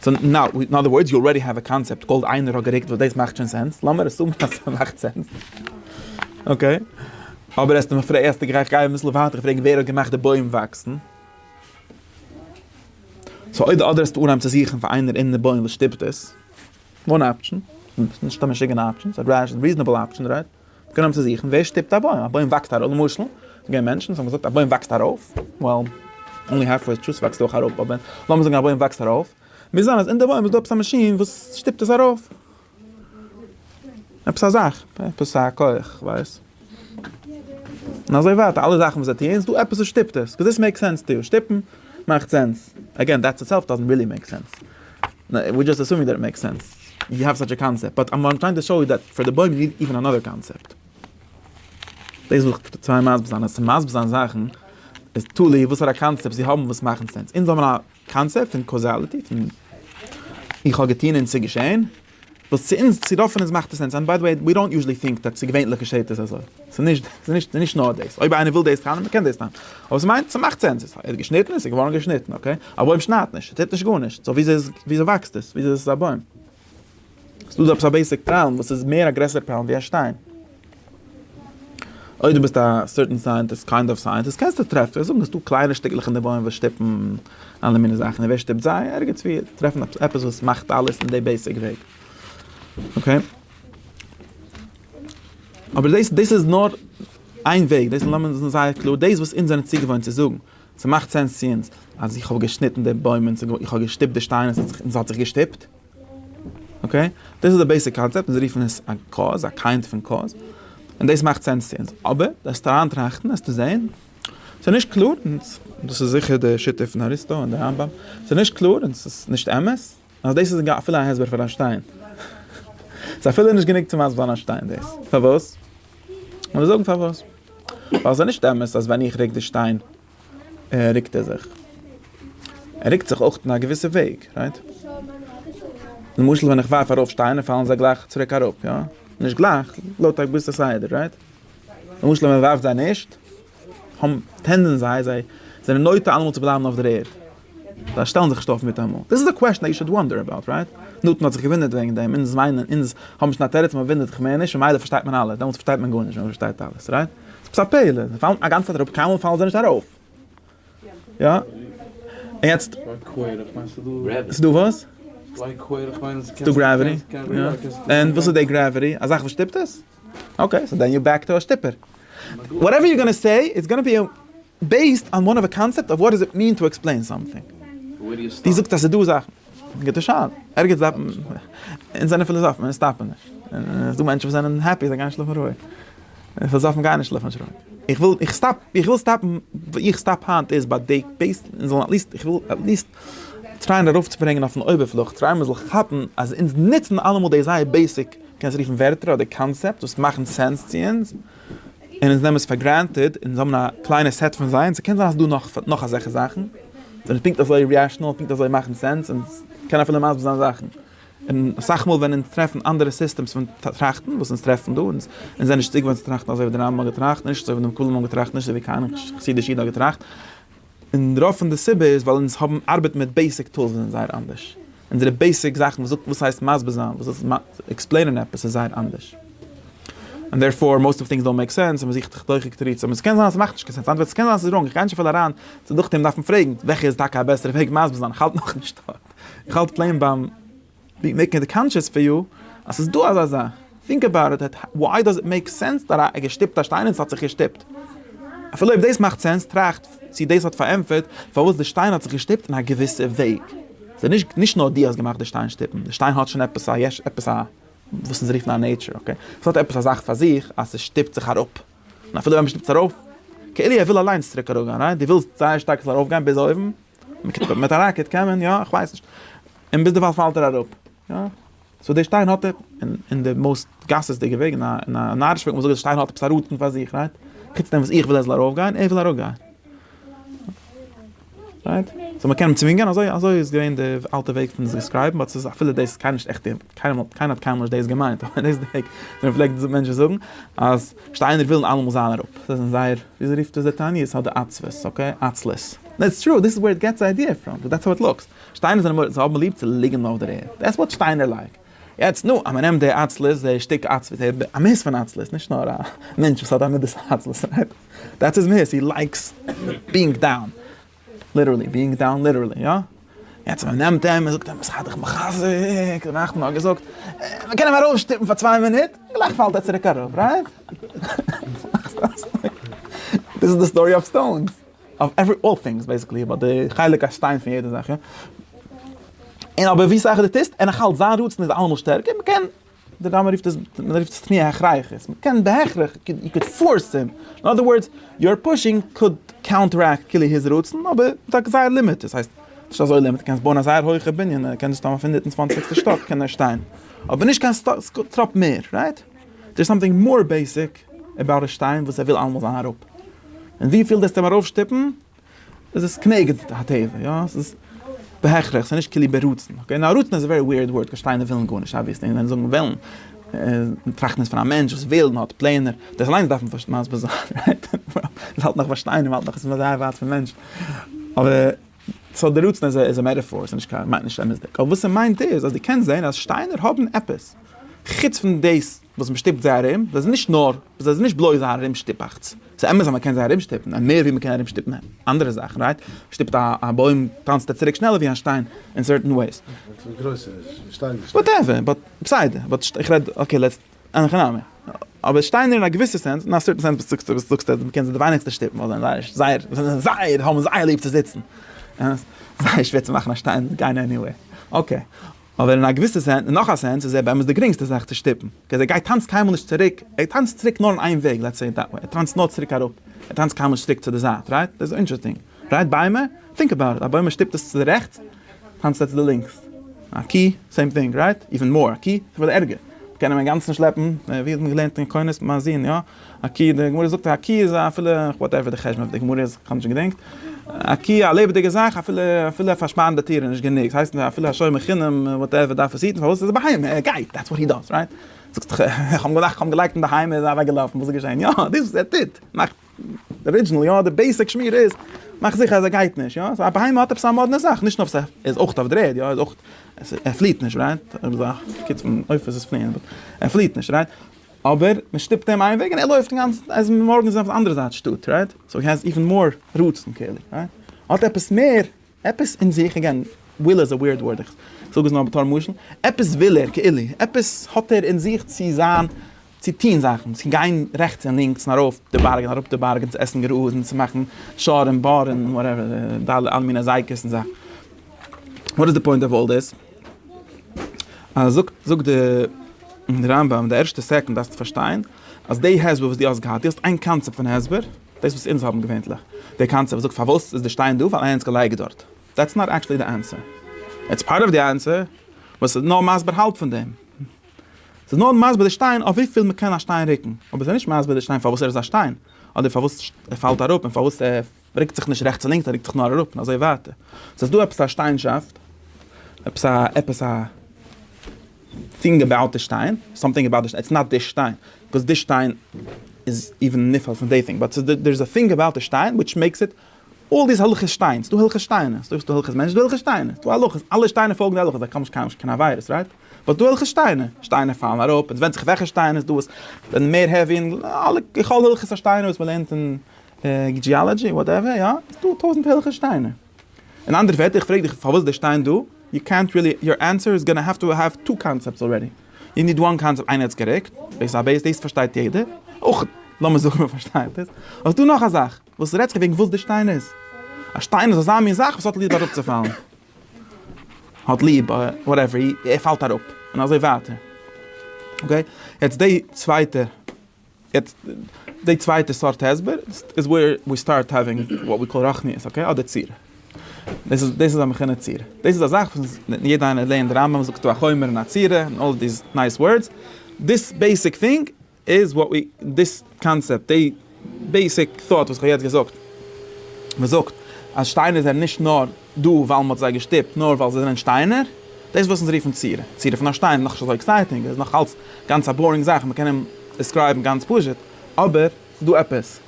סאו נאו, אין אדער ווארדס יו אלרעדי העוו א קאנצעפט קאלד איינער האט גערוקט וואס דאס מאכט שוין סענס, לאמיר אסומען אז עס מאכט סענס. אקעי. אבער העסטו מיך פרעגן, העסטו גערעכט גיי אביסל ווייטער פרעגן ווער האט געמאכט די בוים וואקסן? סאו אויב די ארדער איז אנהייבן צו זוכן פאר איינער אין די בויען וואס שטופט עס, וואן אפשען, נישט א משוגענע אפשען, ס'איז א ריזענעבל אפשען רייט, זיי קענען אנהייבן צו זוכן ווער שטופט א בוים, א בוים וואקסט ארויף, למשל איז געווען מענטשן וואס האבן געזאגט א בוים וואקסט ארויף, ווייל אנלי האלף וועיזש טריס וואקסט אויך ארויף, אבער לאמיר זאגן א בוים וואקסט ארויף, מוז זיין אז אין די בוים איז דא עפעס א מאשין וואס שטופט עס ארויף. עפעס א זאך, עפעס א כח, כ'ווייס. און אזוי ווייטער, אלע זאכן וואס זיי טוען, ס'דא עפעס וואס שטופט עס, קאוז דיס מעיקס סענס טא יו, שטופן מאכט סענס, עגעין, דעט איטסעלף דאזענט ריעלי מעיק סענס, וויר דזשאסט עסומינג דעט איט מעיקס סענס, יו העוו סאטש א קאנצעפט, באט וואט איים טרייענג טא שאו איז דעט פאר די בוים יו ניד איווען אנאדער קאנצעפט. דאס וויל איך טרייען מסביר זיין, אז צו מסביר זיין זאכן, איז תלוי וואסארא קאנצעפטס זיי האבן וואס מאכן סענס, אונז האבן א. קאנצעפט פון קאוזאליטי פון איך האב געטון און ס'איז געשען, וואס צו אונז צו רוב פון אונז מאכט עס סענס, ענד ביי די וועי ווי דאנט יוזשעלי טינק דעט צו געווענליך געשעט עס אזוי, ס'איז נישט נאר דאס, אויב איינער וויל דאס טענה'ן מ'קען דאס טענה'ן, אבער ס'מיינט ס'מאכט סענס, ער האט געשניטן און ס'איז געווארן געשניטן, אקעי, א בוים שניידט נישט, ס'טוט נישט גארנישט, סאו וויאזוי וואקסט עס, וויאזוי איז עס א בוים? ס'דא עפעס א בעיסיק פראבלעם וואס איז מער א גרעסערע פראבלעם ווי א שטיין. אויב דו ביסט א סערטען סייענטיסט, קיינד אוו סייענטיסט, קענסטו טרעפן, זאגן ס'דא קליינע שטיקלעך אין די בוים וואס שטופן אלע מיני זאכן, און ווער שטופט זיי? ערגעץ ווי טרעף מען עפעס וואס מאכט אלעס אין די בעיסיק וועג. אקעי. אבער דאס דאס איז נאר איין וועג, דאס איז זייער קלאר, דאס וואס אונז זענען צוגעוואוינט צו זאגן, ס'מאכט סענס צו אונז אז איך האב געשניטן די בוים און איך האב געשטופט די שטיין און ס'האט זיך געשטופט. אקעי? דאס איז די בעיסיק קאנצעפט און זיי רופן עס א קאוז, א קיינד פון קאוז, און דאס מאכט סענס צו אונז. אבער וועסטו אריינטראכטן וועסטו זען ס'איז נישט קלאר און דאס איז זיכער די שיטה פון אריסטו און די רמב ם, ס'איז נישט קלאר און ס'איז נישט אמת. אז דאס איז אפילו א הסבר פאר א שטיין. ס'איז אפילו נישט גענוג צו מסבר'ן א שטיין דאס. פארוואס? מ'וועט זאגן פארוואס. ווייל ס'איז נישט אמת אז ווען איך רוק די שטיין רוקט ער זיך. ער רוקט זיך אויך אין א געוויסע וועג, רייט? למשל ווען איך ווארף ארויף שטיינער פאלן זיי גלייך צוריק אראפ, יא? נישט גלייך, לויט א געוויסע סדר, רייט? למשל ווען מ'ווארפט זיי נישט, טענדען זיי, זיי זענען נוטה אלעמאל צו בלייבן אויף דער ערד. זיי שטעלן זיך נישט אויף מיטאמאל. דיס איז א קוועשאן יו שוד וואנדער אבאוט, רייט? נתן האט זיך געווינדערט וועגן דעם, אונז וויינען, אונז האבן נישט קיין תירוץ, מען ווינדערט זיך מער נישט, ממילא פארשטייט מען אלעס, דעמאלטס פארשטייט מען גארנישט ווען מען פארשטייט אלעס, רייט? ס'איז עפעס א פעלער, זיי פאלן אגאנצע צייט אראפ, קיינמאל פאלן זיי נישט ארויף. יא? און יעצט? ס'איז דא וואס? ס'איז דא גרעוויטי. און וואס איז די גרעוויטי? א זאך וואס שטופט עס? אקעי, סאו דען יו בעק טו א שטופער. וואטעווער יו גאנא סעי איטס גאנא בי בעיסד אן וואן אוו א קאנצעפט אוו וואט דאז איט מין טו עקספלעין סאמטינג. דו זאגסט אז ס'איז דא זאכן. גוטע שאלה. ערגעץ דארף מען. אונז זענען פיליזאפן אונז סטאפן נישט. ס'איז דא מענטשן וואס זענען העפי זיי גייען שלאפן רואיג. פיליזאפן גייען נישט שלאפן נישט רואיג. איך וויל איך סטאפ איך וויל סטאפן וואו איך סטאפ היינט איז ביי די בעיס אונז זאלן עטליסט איך וויל עטליסט טרייען ארויפצוברענגען אויפן אויבערפלאך, טרייען מען זאל כאפן אז אונז נוצן אלעמאל די זייער בעיסיק, קענסט רופן ווערטער אדער קאנצעפטס וואס מאכן סענס צו אונז, און אונז נעמען עס פאר גרענטעד, אונז האבן א קליינע סעט פון זיי, און ס'קען זיין אז ס'דא נאך נאך אזעלכע זאכן, זיי זענען פונקט אזוי רעאשנעל, פונקט אזוי מאכן סענס, און קען אפילו מסביר זיין זאכן. און אסאך מאל ווען אונז טרעפן אנדערע סיסטעמס פון טראכטן וואס אונז טרעפן דא, אונז זענען נישט צוגעוואוינט צו טראכטן אזוי ווי דער רמב ם האט געטראכט, נישט אזוי ווי דעם כולל מו ם האט געטראכט, נישט אזוי ווי קיין חסידיש איד האט געטראכט, און רוב פון די סיבה איז ווייל אונז האבן ארבעט מיט בעיסיק טולס וואס זענען זייער אנדערש. אונזערע בעיסיק זאכן וואס זאגט וואס ס'הייסט מסביר זיין, וואס זאגט עקספלעינען עפעס איז זייער אנדערש. און דערפאר מאוסט אוו טינגס דאונט מעיק סענס און מען זוכט דוחק תירוצים און ס'קען זיין אז ס'מאכט נישט קיין סענס. אנדערווייז ס'קען זיין אז ס'איז ראנג. איך גיי נישט אפילו אריין צו דוחק אים דארפן פרעגן וועלכע איז טאקע א בעסערע וועג מסביר זיין. איך האלט נאכנישט דארט. איך האלט פלעין ביים. ווי מעקן איט קאנטשעס פאר יו אז ס'איז דא אזא זאך. טינק עבאוט איט, וואי דאז איט מעיק סענס דאט א געשטופט א שטיין און ס'האט זיך געשטופט? אפילו אויב דאס מאכט סענס, טראכט צי דאס האט פארענטפערט פארוואס די שטיין האט זיך געשטופט אין א געוויסע וועג. ס'איז נישט נישט נאר דו האסט געמאכט די שטיין שטופן, די שטיין האט שוין עפעס א יש, עפעס א וואס אונז רופן א נעיטשער, אקעי? ס'האט עפעס א זאך פאר זיך אז ס'שטופט זיך אראפ. און אפילו ווען מ'שטופט עס ארויף, כאילו ער וויל אליינס צוריק אראפגיין, רייט? דו ווילסט זייער שטארק עס זאל ארויפגיין ביז אויבן? מיט א ראקעט קען מען יא? איך ווייס נישט. און ביזדערווייל פאלט ער אראפ. יא. סאו דער שטיין האט אין די מאוסט גסות'דיגע וועג אין א נארישע וועג, וואס דער שטיין האט עפעס א ראטן פאר זיך, רייט? חוץ דעם וואס איך וויל ער זאל ארויפגיין, ער וויל אראפגיין. רייט? סאו מ'קען אים צווינגען? אזוי אזוי איז געווען די אלטע וועג פון עס דיסקרייבן, באט ס'איז אפילו דאס קיינער נישט עכט, קיינער האט קיינמאל נישט דאס געמיינט, אבער דאס איז די וועג ווי מ'פלעגט מענטשן זאגן אז. שטיינער ווילן אלעמאל זיין אראפ, זיי זענען זייער, וויאזוי רופט עס דער תענית? ס'האט די עצבות, אקעי? עצלות. דעטס טרו, דיס איז וועיר איט געטס די איידיע פראם, וויל דעטס האו איט לוקס. שטיינער זענען מורא'דיג, זיי האבן ליב צו ליגן אויף דער ערד, דעטס וואט שטיינער לייק. יעצט, נו, אז מ'נעמט די עצלות, די שטיק עצבות, די מהות פון עצלות, נישט נאר א מענטש וואס האט א מדת העצלות, רייט? דעטס היז מהות, הי לייקס בינג דאון. ליטערלי, ביאינג דאון ליטערלי, יא? יעצט מען נעמט אים, מען זאגט אים, זיי דיך מחזק, דער נחמן האט געזאגט, מען קען אים ארויפשטופן פאר צוויי מינוט, גלייך פאלט ער צוריק אראפ, רייט? דאס איז די סטארי אויף סטאונס, אויף עווערי אלל טינגס בעיסיקלי, אבער די חלק א שטיין פון יעדע זאך, יא? און אבער ווי סאך דו טוסט, און נאכאלץ זיין רצון איז אלעמאל שטערקער, מען קען די רמ א רופט עס, מען רופט עס תמי' הכרחית, מען קען בהכרח, יו קוד פארס הים, אין אדער ווארדס, יור פושינג קוד קאונטערעקט כאילו היז רצון, אבער מיט א גזירה לימיט, דאס הייסט, נישט אזוי לימיט, קענסט בויען א זייער הויכע בנין, ער קען דאס טאמער אויף הונדערט און צוואנציגסטע שטאק קען ער שטיין, אבער נישט קיין טראפ מער, רייט? דער איז סאמטינג מאר בעיסיק עבאוט א שטיין וואס ער וויל אלעמאל זיין אראפ, און וויפיל דאס טאר מען ארויפשטופן, עס איז כנגד הטבע, יא, עס איז בהכרח, עס איז נישט כליל ברצון, אקעי, נאר רצון איז א ווערי וויערד ווארד, געשטייענע ווילן גארנישט, אבוויעסלי, ווען זאגן ווילן, טראכטן איז פון א מענטש וואס וויל און האט פלענער, דאס אליינס דארף מען פארשט מסביר זיין, רייט? מען האלט נאך ביי שטיין, מען האלט נאך עס איז זייער ווייט פון מענטש, אבער, סאו דער רצון איז א מעטאפאר, עס איז נישט קיין, מיינט נישט אמת'דיג, אבער וואס ער מיינט איז אז דו קענסט זען אז שטיינער האבן עפעס, חוץ פון דאס. וואס מ'שטופט זיי ארום, זיי זענען נישט נאר, זיי זענען נישט בלויז א ארומשטופאכטס, ס'איז אמת אז מ'קען זיי ארומשטופן, און מער ווי מ'קען ארומשטופן אנדערע זאכן, רייט? מ'שטופט א בוים טאנצט ער צוריק שנעלער ווי א שטיין אין סערטען וועיס. וואטעווער, באט בסדר, באט איך רעד, אקעי לעטס, אין הכי נמי. אבער שטיינער אין א געוויסע סענס, אין א סערטען סענס וואס דו זאגסט אז מ'קען זיי די ווייניגסטע שטופן ווייל זיי זענען זייער, זיי זענען זייער, האבן זייער ליב צו זיצן. זייער שווער צו מאכן א שטיין גיין עניוועיר. אקעי. אבער אין א געוויסע סענס, אין נאך א סענס, איז ער באמת די גרינגסטע זאך צו שטופן, קעז ער גייט טאנצט קיינמאל נישט צוריק, ער טאנצט צוריק נאר אין איין וועג, לעטס סעי איט דעט וועי, ער טאנצט נאר צוריק אראפ, ער טאנצט קיינמאל נישט צוריק צו די זייט, רייט? דאס איז אינטרעסטינג, רייט? ביימער? טינק אבאוט איט, א בוים מען שטופט עס צו די רעכטס, טאנצט ער צו די לינקס, א קי, סעים טינג, רייט? איווען מאר, א קי, אפילו ערגער, מ'קען אים אינגאנצן שלעפן, ווי האט מען געלערנט אין קונס, מ'זין, יא? א קי, די גמרא זאגט א קי איז אפילו, וואטעווער די חשבון פון די גמרא איז, כ'האב נישט געדענקט, א קי א לעבעדיגע זאך אפילו אפילו פארשפארן די טיר איז נישט גענוג, ס'הייסט אפילו א שומר חינם וואטעווער דארף עס היטן, פארוואס עס איז א בהמה, ער גייט, דעטס וואט הי דאז, רייט? זאגסט איך האב געדאכט כ'האב אים געלייגט אין די היים איז ער אוועק געלאפן, וואס איז געשען? יא, דאס וואס ער טוט, מאכט די ארידזשענעל יא, די בעיסיק שמירה איז, מאך זיכער אז ער גייט נישט, יא, סאו א בהמה האט עפעס א מאדנע זאך, נישט נאר ס'איז איז אויך אויף די ערד, יא, איז אויך, ער פליעט נישט, רייט? ער פליעט נישט, רייט? אבער מען שטופט אים איין וועג און ער לויפט אינגאנצן אז מארגן איז אויף אנדערע זייט שטאט רייט סאו הי העז איווען מאר רצון כאילו רייט האט עפעס מער עפעס אין זיך אגעין וויל איז א וויערד ווארד איך זאג עס נאר בתור משל עפעס וויל ער כאילו עפעס האט ער אין זיך צו זיין צו טוהן זאכן צו גיין רעכטס און לינקס און ארויף די בארג און אראפ די בארג און צו עסן גראז און צו מאכן שאר און באר און וואטעווער די אלע מיני אזייקעס און זאכן וואט איז די פוינט אוו אלל דיס? אז זאגט זאגט די רמב ם די ערשטע סעקונד דארפסטו פארשטיין אז די הסבר וואס די האסט געהאט די האסט איין קאנצעפט פון הסבר דאס וואס אונז האבן געווענטליך די קאנצעפט זאגט פארוואס איז די שטיין דא ווייל איינער האט עס געלייגט דארט דעטס נאט עקטשעלי די ענטפער איטס פארט אוו די ענטפער וואס איז נאר מסביר האלב פון דעם ס'איז נאר מסביר די שטיין אויף וויפיל מ'קען א שטיין רוקן אבער ס'איז נישט מסביר די שטיין פארוואס ער איז א שטיין אדער פארוואס ער פאלט אראפ און פארוואס ער מען רוקט זיך נישט רעכטס און לינקס, מען רוקט זיך נאר אראפ און אזוי ווייטער. ס'איז דא עפעס א שטיינשאפט, עפעס א, עפעס א טינג אבאוט די שטיין, סאמטינג אבאוט די שטיין, איטס נאט די שטיין, ביקאוז די שטיין איז איבן נפעל פון די טינג, באט ס'איז דא, דער איז א טינג אבאוט די שטיין וויטש מעיקס איט, אלל דיס הלכות שטיין, ס'דא הלכות שטיינער, ס'דא ס'דא הלכות מענטשן, ס'דא הלכות שטיינער, ס'דא הלכות, אלע שטיינער פאלגן די הלכות, זיי קאמען נישט קיין עבירות, רייט? באט ס'דא הלכות שטיינער, שטיינער פאלן אראפ, און ס'ווענדט זיך וועלכע שטיינער, ס'דא וואס זענען מער העווי, און אלע, ככל הלכות השטיינער וואס מ'לערנט אין. ג'יאלאדזשי וואטעווער יא, איז דא טויזענט הערליכע שטיינער. אין אנדערע ווערטער איך פרעג דיך פארוואס די שטיין דא, יו קענט רילי, יור ענסער איז גאנא העוו טו העוו טו קאנצעפטס אלרעדי, יו ניד וואן קאנצעפט איינער האט עס גערוקט, בעיס א בעיס דאס פארשטייט יעדער, אויך לאמיר זאגן מען פארשטייט עס, האסט דא נאך א זאך, וואס רעדסטו וועגן וואס די שטיין איז, א שטיין איז אזא מין זאך וואס האט ליעב אראפצופאלן, האט ליעב וואטעווער, ער פאלט אראפ, און אזוי ווייטער, אקעי, יעצט די צווייטע. יעצט די צווייטע סארט הסבר איז וועיר ווי סטארט האווינג וואט ווי קאל רחניות אקעי אדער ציר. דאס איז דאס איז א מכינה ציר. דאס איז א זאך וואס יעדע איינער לערנט די רמב ם זאגט דא א חומר און א ציר און אלל דיס נייס ווארדס. דיס בעיסיק טינג איז וואט ווי דיס קאנצעפט די בעיסיק טאט וואס כ'האב יעצט געזאגט. מ'זאגט אז שטיינער זענען נישט נאר. דא ווייל מען האט זיי געשטופט נאר ווייל זיי זענען שטיינער? דאס וואס אונז רופן צירה, צירה פון א שטיין איז נאך נישט אזוי עקסייטינג, עס איז נאך אלץ גאנץ א באורינג זאך, מען קען אים דיסקרייבן גאנץ פשוט, אבער ס'דא עפעס.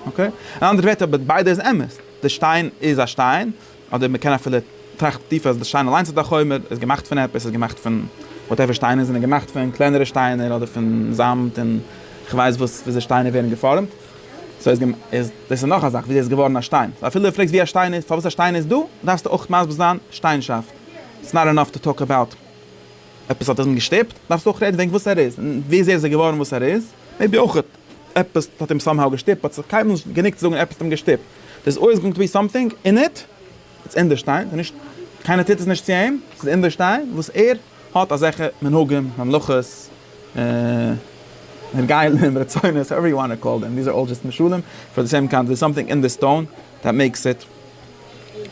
אקעי? אין אנדערע ווערטער אבער ביידע איז אמת, די שטיין איז א שטיין, אדער מען קען אפילו טראכטן טיפער אז די שטיין אליינס איז א חומר, איז געמאכט פון עפעס, איז געמאכט פון וואטעווער שטיינער זענען געמאכט פון קלענערע שטיינער אדער פון זאמד און כ'ווייס וואס וויאזוי שטיינער ווערן געפארעמט. סאו איז געמ איז דאס איז נאך א זאך וויאזוי איז געווארן א שטיין. סאו אפילו די פרעגסט ווי א שטיין איז פארוואס א שטיין איז דא, דארפסטו אויך מסביר זיין שטיינשאפט. איטס נאט אינאף טו טאלק אבאוט עפעס האט אים געשטופט, דארפסטו אויך רעדן וועגן וואס ער איז, און וויאזוי ער איז געווארן וואס ער איז. מעיבי אויך עפעס האט אים סאמהאו געשטופט, באט ס'איז קיינמאל נישט גענוג צו זאגן עפעס האט אים געשטופט. דאס אויסגאנג טו בי סאמטינג אין איט. איטס אין די שטיין, ס'איז נישט, קיינער טוט עס נישט צו אים, ס'איז אין די שטיין וואס ער האט אזעלכע מנהגים, ממלכות, הרגלים, רצונות, האועווער יו וואנט טו קאל דעם, דיס אר אלל דזשאסט משלים, פאר די סעם קאונט דערס סאמטינג אין די סטאון דעט מעיקס איט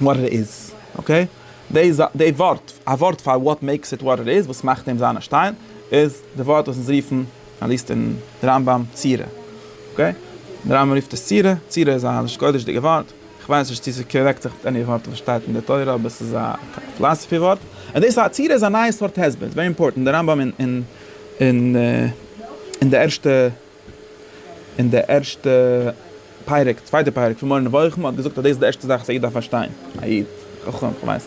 וואט איט איז, אקעי? די זא די ווארט, א ווארט פאר וואט מעיקס איט וואט איט איז, וואס מאכט אים זיין א שטיין, איז די ווארט וואס אונז רופן, אטליסט אין די רמב ם, צירה. אקעי? די רמב ם רופט עס צירה, צירה איז א לשון קודש'דיגע ווארט. כ'ווייס נישט צו ס'קארעקט זיך מיט עני ווארט וואס שטייט אין די תורה, אבער ס'איז א פילאסעפי ווארט. און דאס אז עצירה איז א נייע סארט הסבר איז ווערי אימפארטענט. דער רמב ם אין די ערשטע אין די ערשטע פרק, צווייטע פרק פון מורה נבוכים האט געזאגט אז דאס איז די ערשטע זאך וואס א איד דארף פארשטיין, א איד, חכם, כ'ווייס.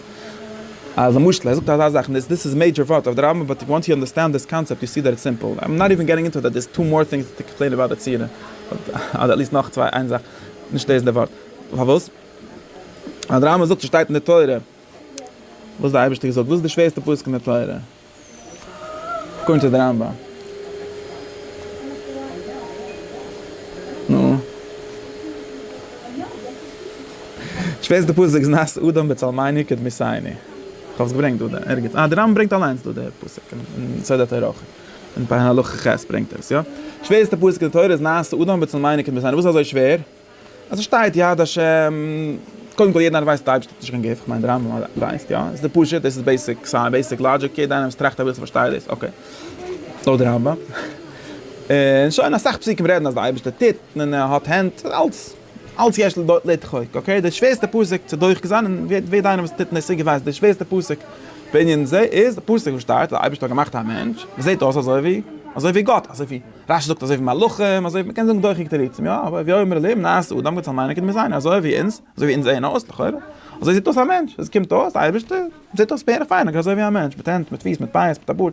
אז למשל ער זאגט אזא זאך, און דאס איז מעידזשער ווארט אויף די רמב ם, באט וואנס יו אנדערסטענד דיס קאנצעפט יו סי דעט איטס סימפל. איים נאט איווען געטינג אינטו איט, דער איז טו מאר טינגס טו קאמפלעין אבאוט עצירה, אדער עטליסט נאך צוויי, איין זאך. נישט דאס איז דער ווארט. פארוואס? ווייל דער רמבם זאגט ס'שטייט אין די תורה וואס דער אייבערשטער האט געזאגט. וואס איז די שווערסטע פסוק אין די תורה? אקארדינג טו די רמבם. נו. די שווערסטע פסוק איז נעשה אדם בצלמינו כדמי סייני. כ'האב עס געברענגט דא ערגעץ. אה, דער רמבם ברענגט אליינס דא די פסוק אין סדר הטהרה אויך. אין פר' הלכה ח' ברענגט ער עס, יא. שווערסטע פסוק אין די תורה איז נעשה אדם בצל מיינע קומט עס אן, וואס אזוי שווער? אז עס שטייט יד השם, קודם כל יעדער איינער ווייסט אז די אייבערשטער האט נישט קיין גוף, כ'מיין די רמב ם ווייסט יא, עס איז פשוט, דאס איז בעיסיק סייענס, בעיסיק לאגיק, יעדער איינער וואס טראכט אביסל פארשטייט דאס, אקעי, לויט די רמב ם, און שוין, אסאך פסוקים רעדן אז די אייבערשטער טוט, און ער האט הענט, אלס. אלץ יש לו דארט לדחוק, אקעי, די שווערסטע פסק צו דוחק זיין, און ווער ווער דיינער וואס טוט אין עסק ווייסט, די שווערסטע פסק בענין זה איז די פסוק וואס שטייט, די אייבערשטער האט געמאכט א מענטש, וואס זעט אויס אזוי ווי, אזוי ווי גאט, אזוי ווי, רש י זאגט אזוי ווי מלאכים, אזוי ווי, מ'קען זאגן דוחק תירוצים, יא, אבער הוי אומר אלים נעשה אדם, גאט זאל מיינען כדי מיר זענען אזוי ווי אונז, אזוי ווי אונז זעען אויס, לכאורה, אזוי זעט אויס א מענטש, אזוי קומט אויס, די אייבערשטער זעט אויס בערך פיין, אזוי ווי א מענטש, מיט הענט, מיט פיס, מיט פאות, מיט א בארד.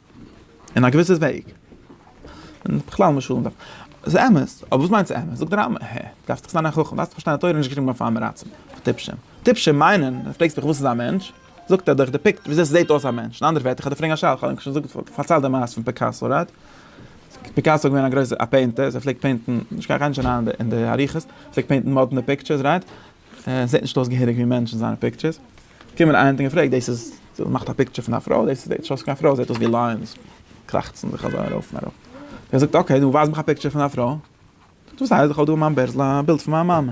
אין א געוויסע וועג. און בכלל משלים דארף. ס'איז אמת, אבער וואס מיינט ס'אמת? זאגט די רמב ם, העע, דארפסט דאך זיין א חכם, דארפסט פארשטיין די תורה, נישט געשריבן אויף א עם רצון, אויף טיפשים. טיפשים מיינען, אז פרעגסט מיך וואס איז א מענטש? זאגט ער דאך דעפיקט וויאזוי ס'זעהט אויס א מענטש. אין אנדערע ווערטער, כ'וועל דיר פרעגן א שאלה, כ'האב ענק שוין פארציילט די מעשה פון פיקאסא, רייט? פיקאסא איז געווען א גרויסער א פעינטער, זיי פלעגט פעינטן, נישט קיין קיין נישט אריין אין די אריכות, פלעגט פעינטן מאדנע פיקטשערס, רייט? עס זעט נישט אויס געהעריג ווי מענטשן זיינע פיקטשערס, קומען איינער האט אים געפרעגט דאס איז דאס מאכט א פיקטשער פון א פרוי דאס זעט נישט אויס קיין פרוי עס זעט אויס ווי לייענס קראכצן זיך אזוי ארויף און אראפ, ער זאגט אקעי נו ווייז מיך א פיקטשער פון א פרוי, זאגט וואס הייסט איך האב דא אין מיין בערזל א בילד פון מיין מאמע,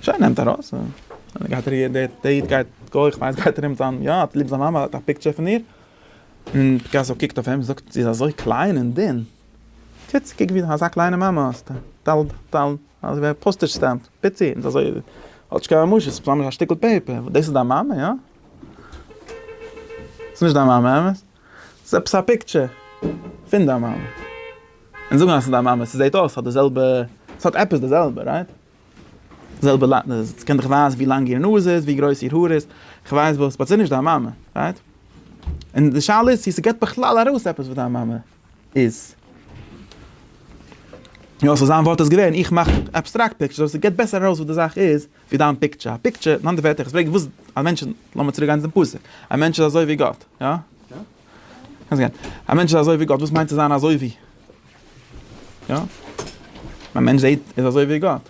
שוין נעמט ארויס און גייט ער דער איד גייט גוי כ'מיין עס גייט ארום זיין יא האט ליב זיין מאמע האט א פיקטשער פון איר, און פיקאסא קוקט אויף אים זאגט זי איז אזוי קליין און דין. קיצער קוק ווי אזא קליינע מאמע האסטו, דאלד דאלד אזוי ווי א פאסטעדזש סטעמפ, פיצי און אזוי האט נישט קיין ממשות, סתם א שטיקל פעיפער, דאס איז דיין מאמע יא? ס'איז נישט דיין מאמע אמת? ס'איז עפעס א פיקטשער פון דיין מאמע, און זאגן אז ס'איז דיין מאמע, ס'זעט אויס ס'האט די זעלבע, ס'האט עפעס די זעלבע רייט? די זעלבע ס'קען דיך ווייזן ווי לאנג איר נאז איז, ווי גרויס איר האר איז, כ'ווייס וואס, באט ס'איז נישט דיין מאמע רייט? און די שאלה איז צו ס'געבט בכלל ארויס עפעס וואס דיין מאמע. איז. יא סאו זיין ווארט איז געווען איך מאך עבסטראקט פיקטשער סאו ס'געט בעסער ארויס וואס די זאך איז ווי דיין פיקטשער. א פיקטשער, אין אנדערע ווערטער איך פרעג וואס א מענטש, לאמיר צוריק גיין צום פסוק, א מענטש איז אזוי ווי גאט, יא? קענסט גיין. א מענטש איז אזוי ווי גאט, וואס מיינט צו זיין אזוי ווי? יא? א מענטש זעהט איז אזוי ווי גאט.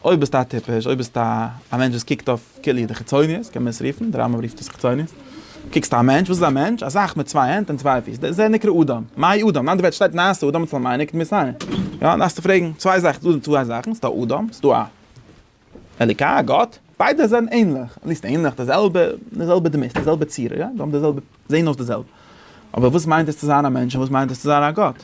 אויב ביסטו א טיפש, אויב ביסטו א מענטש וואס קוקט אויף כולי די חיצוניות, קען מען עס רופן, דער רמב ם רופט עס חיצוניות, קוקסט א מענטש, וואס איז א מענטש? א זאך מיט צוויי הענט און צוויי פיס, דער זה נקרא אדם, מהאי אדם? אין אנדערע ווערטער שטייט נעשה אדם אצל מיינע כתמי סיני, יא? דארפסטו פרעגן צוויי זאכן, ס'דא צוויי זאכן, ס'דא אדם, ס'דא א אלוקי, א גאט, ביידע זענען ענליך, נישט ענליך, די זעלבע, די זעלבע דמות, די זעלבע צורה, יא? זיי האבן די זעלבע, זעהן אויס די זעלבע, אבער וואס מיינט עס צו זיין א מענטש און וואס מיינט עס צו זיין א גאט?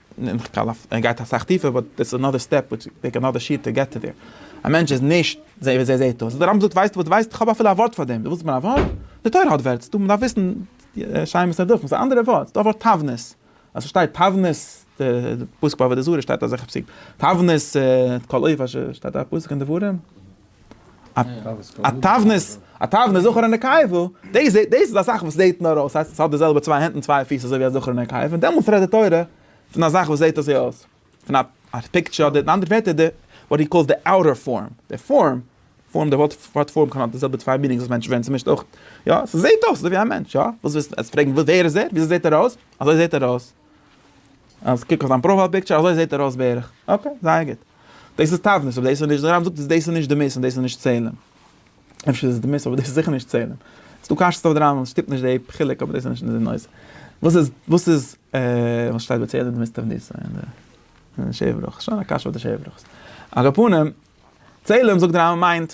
און כ'קאל אויף ער גייט אסאך טיפער באט דעטס אנאדער סטעפ וויטש וויל טעיק אנאדער שיעור טו געט טו דער. א מענטש איז נישט זיי ווי זיי זעהט אויס. די רמב ם זאגט ווייסטו וואס די ווייסט? כ'האב אפילו א ווארט פאר דעם. דו ווילסט מיין א ווארט? די תורה האט ווערטס. דו מ'דארף וויסן שיימעס ניט דורכן. ס'איז א אנדערע ווארט. ס'איז דא א ווארט תבנית. אז ס'שטייט תבנית די פסוק ביי עבודה זרה שטייט אזעלכע פסוקים. תבנית את כל אויף אשר שטייט א פסוק אין דברים. א תבנית, א תבנית זכר ונקבה, דאס דאס איז א זאך וואס זעט נאר אויס, ס'הייסט עס האט די זעלבע צוויי הענט און צוויי פיס אזוי ווי א זכר און א נקבה, און דעמאלטס רעדט די תורה פון א זאך וואס זעט אזוי אויס, פון א א פיקטשער אדער אין אנדערע ווערטער די וואט הי קאלס די אוטער פארם, די פארם, פארם די ווארט ווארט פארם קען האבן די זעלבע צוויי מינינגס וואס מענטשן ווערן צומישט אויך, יא, ס'זעט אויס אזוי ווי א מענטש, יא, וואס ווילסטו עס פרעגן ווער איז ער? וויאזוי זעט ער אויס? אזוי זעט ער אויס. אז קוק אויף זיין פראפייל פיקטשער אזוי זעהט ער אויס בערך. אקעי זייער גוט. דאס איז תבנית אבער דאס איז נישט, די רמב ם זאגט אז דאס איז נישט דמות און דאס איז נישט צלם. אפשר איז עס דמות אבער דאס איז זיכער נישט צלם. עס איז דא קשיות אויף די רמב ם, עס שטימט נישט די חילוק אבער דאס איז נישט אונזער נושא. וואס איז וואס איז וואס שטייט ביי צלם דמות תבנית אין די אין די שבעה ברכות? שוין א קשיא אויף די שבעה ברכות. על כל פנים, צלם זאגט די רמב ם מיינט.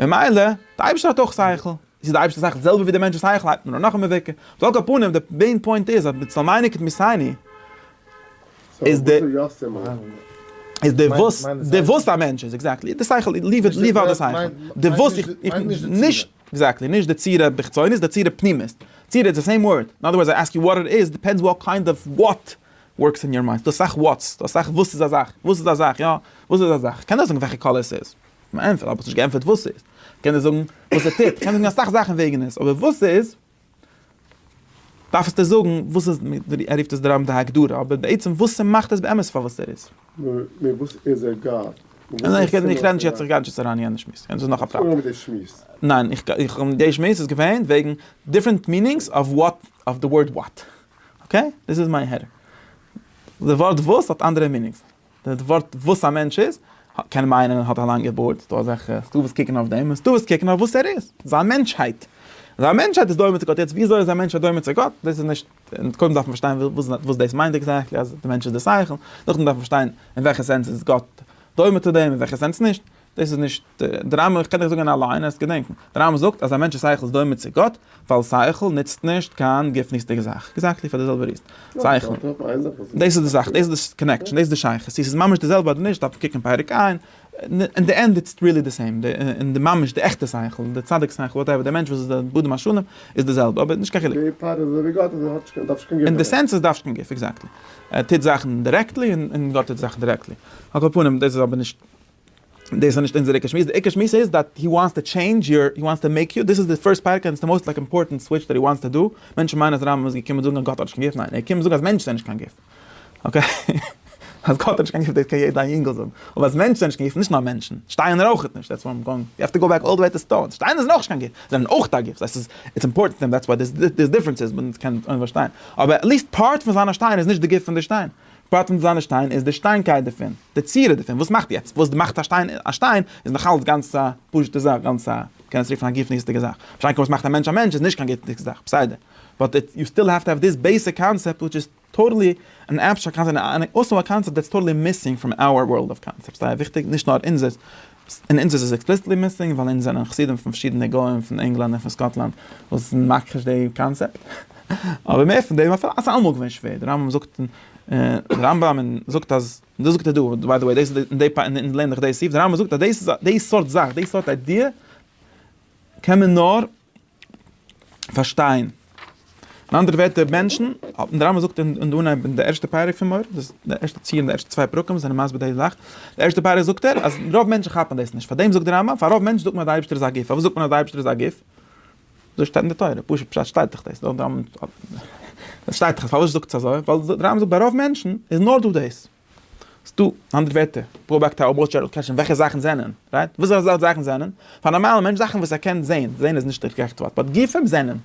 ממילא, די אייבערשטער האט אויך שכל, איז די אייבערשטער זאך די זעלבע ווי די מענטש'ס שכל הייבט מען אן נאך א מבוכה, על כל פנים די מעין פוינט איז אז בצל מייני כתמיסייני איז די איז די וואס די וואס א מענטש איז, עקזעקטלי, די שכל ליוו איט ליוו אוט די שכל, די וואס נישט עקזעקטלי, נישט די צורה בחיצונית, די צורה פנימית, צורה איז די סעים ווארד, אין אדער ווארדס איי עסק יו וואט איט איז, דיפענדס וואט קיינד אוו וואט ווארקס אין יור מיינד, ס'דא אסאך וואטס, ס'דא אסאך וואס איז א זאך, וואס איז א זאך, יא, וואס איז א זאך, כ'קען נישט זאגן וועלכע קאליר ס'איז. מיין פרוי האט נישט געענטפערט וואס ס'איז. איך קען דיר זאגן וואס ער טוט, איך קען זאגן אסאך זאכן וועגן עס, אבער וואס ס'איז, דארפסטו זאגן וואס איז, ער רופט עס די רמ ד הגדרה, אבער בעצם וואס ס'מאכט עס באמת פאר וואס ער איז. נאר וואס איז ער גאט? און איך רעד נישט יעצט, איך גיי נישט יעצט אריין אין יענע שמועס, יענץ איז נאך א פרט. אנגעהויבן מיט די שמועס. ניין, איך, די שמועס איז געווען וועגן דיפרענט מינינגס אוו וואט, אוו די ווארד וואט. אקעי? דאס איז מיין הערה. די ווארט וואס האט אנדערע מינינגס. די ווארט וואס א מענטש איז, קען מיינען ער האט א לאנגע בארד, ס'דא אזעלכע ס'איז דא וואס קוקן אויף דעם, און ס'איז דא וואס קוקן אויף וואס ער איז, זיין מענטשהייט. זיין מענטשהייט איז דומה צו גאט, יעצט ווי אזוי איז א מענטש דומה צו גאט, דאס איז נישט, קודם דארף מען פארשטיין וואס דאס מיינט עקזעקטלי אז דער מענטש איז דער שכל, נאכדעם דארף מען פארשטיין אין וועלכע סענס איז גאט דומה צו דעם, אין וועלכע סענס נישט. דאס איז נישט די רמב ם, איך קען דיך זאגן א ליין, עסט געדענקן, די רמב ם זאגט אז א מענטש'ס שכל איז דומה צו גאט, ווייל שכל נוצט נישט קיין גופנית'דיגע זאך, עקזעקטלי פאר די זעלבע ריזן, שכל, דאס איז די זאך, דאס איז די קאנעקשאן, דאס איז די שייכות, צו ס'איז ממש די זעלבע אדער נישט דארף מען קוקן פרק ע', אין די ענד איטס ריעלי די סעים, אין די ממש די עכטע שכל, די צדיק שכל, וואטעווער, די מענטש וואס איז דער בודם השלם, איז די זעלבע, אבער נישט קיין חילוק. די פאר איז אזויווי גאט, אזוי האט נישט, דארף נישט קיין גוף. אין די סענס איז דארף נישט קיין גוף, עקזעקטלי, ער טוט זאכן דירעקטלי און גאט טוט זאכן דירעקטלי, על כל פנים דאס איז אבער נישט דאס איז נישט אונזער עיקר שמועס, די עיקר שמועס איז דאט הי וואנטס טו טשעינדזש יור, הי וואנטס טו מעיק יו, דאס איז די פירסט פרק און עס איז די מאוסט לייק אימפארטענט סוויטש דאט הי וואנטס טו דא, מענטשן מיינען אז רמב ם איז געקומען זאגן אז גאט האט נישט קיין גוף, ניין ער איז געקומען זאגן אז מענטשן זענען נישט קיין גוף, אקעי? אז גאט האט נישט קיין גוף דאס קען יעדע אינגל זאגן, אבער אז מענטשן זענען נישט קיין גוף, נישט נאר מענטשן, שטיינער אויך נישט, דעטס וואט איים גאוינג, יו העוו טו גאו בעק אלל די וועי טו סטאונס, שטיינער זענען אויך נישט קיין גוף, זיי זענען אויך א גוף, דאס איז איטס אימפארטענט טו הים דאטס וואט דער דיפרענס איז, מען קען אויב פארשטיין, אבער עטליסט פארט פון זיין א שטיין איז נישט די גוף פון די שטיין. פאטענט זיינע שטיין איז די שטיינקייט דערפון, די צורה דערפון, וואס מאכט יעצט, וואס מאכט א שטיין א שטיין, איז נאכאלץ גאנץ א פשוט'ע זאך, גאנץ א, מ'קען עס רופן א גופניות'דיגע זאך, משא כ וואס מאכט א מענטש א מענטש איז נישט קיין גופניות'דיגע זאך, בסדר, באט איט, יו סטיל העוו טו העוו דיס בעיסיק קאנצעפט וויטש איז טאטעלי אן עבסטראקט קאנצעפט, און און און און אויסאו א קאנצעפט דעטס טאטעלי מיסינג פראם אווער ווארלד אוו קאנצעפטס, סאיז זייער וויכטיג, נישט נאר אונזערס. אין אונז איז עס עקספליסיטלי מיסינג ווייל אונז זענען חסידים פון פארשידענע גוים פון ענגלאנד און פון סקאטלאנד וואס זענען מכחיש די קאנצעפט. אבער מער פון דעם, אויף אזא עמוק געווען שווער, די רמבם זאגט און די רמב ם זאגט אז, און דאס זאגט ער דא, ביי די וועי דאס איז די פאר אונז לערנען דאך די סעיף, די רמב ם זאגט אז דאס איז די סארט זאך, די סארט איידיע קען מען נאר. פארשטיין. אין אנדערע ווערטער מענטשן, דער רמבם זאגט אין די אנהייב אין די ערשטע פרק פון מוהר ן, דאס די ערשטע ציר אין די ערשטע צוויי פרקים זענען מסביר די זאך, די ערשטע פרק זאגט ער אז רוב מענטשן כאפן דאס נישט, פאר דעם זאגט דער רמבם, פאר רוב מענטשן זאגט מען אז די אייבערשטער איז א גוף, פארוואס זאגט מען אז די אייבערשטער איז א גוף? אזוי שטייט אין די תורה, פשוט פשט שטייט דאך דאס, דארט דער רמבם, עס שטייט דאך, פארוואס זאגטס אזוי? ווייל דער רמבם זאגט ביי רוב מענטשן איז נאר דא דאס. ס'דא אנדערע ווערטער, פראבאקטאר אויב מ'וויל אפשר קעטשן וועלכע זאכן זענען, רייט? וואס אזא סארט זאכן זענען? פאר א נארמאלע מענטש זאכן וואס ער קען זעהן, זעהן איז נישט די גערעכטע ווארט, באט גופים זענען.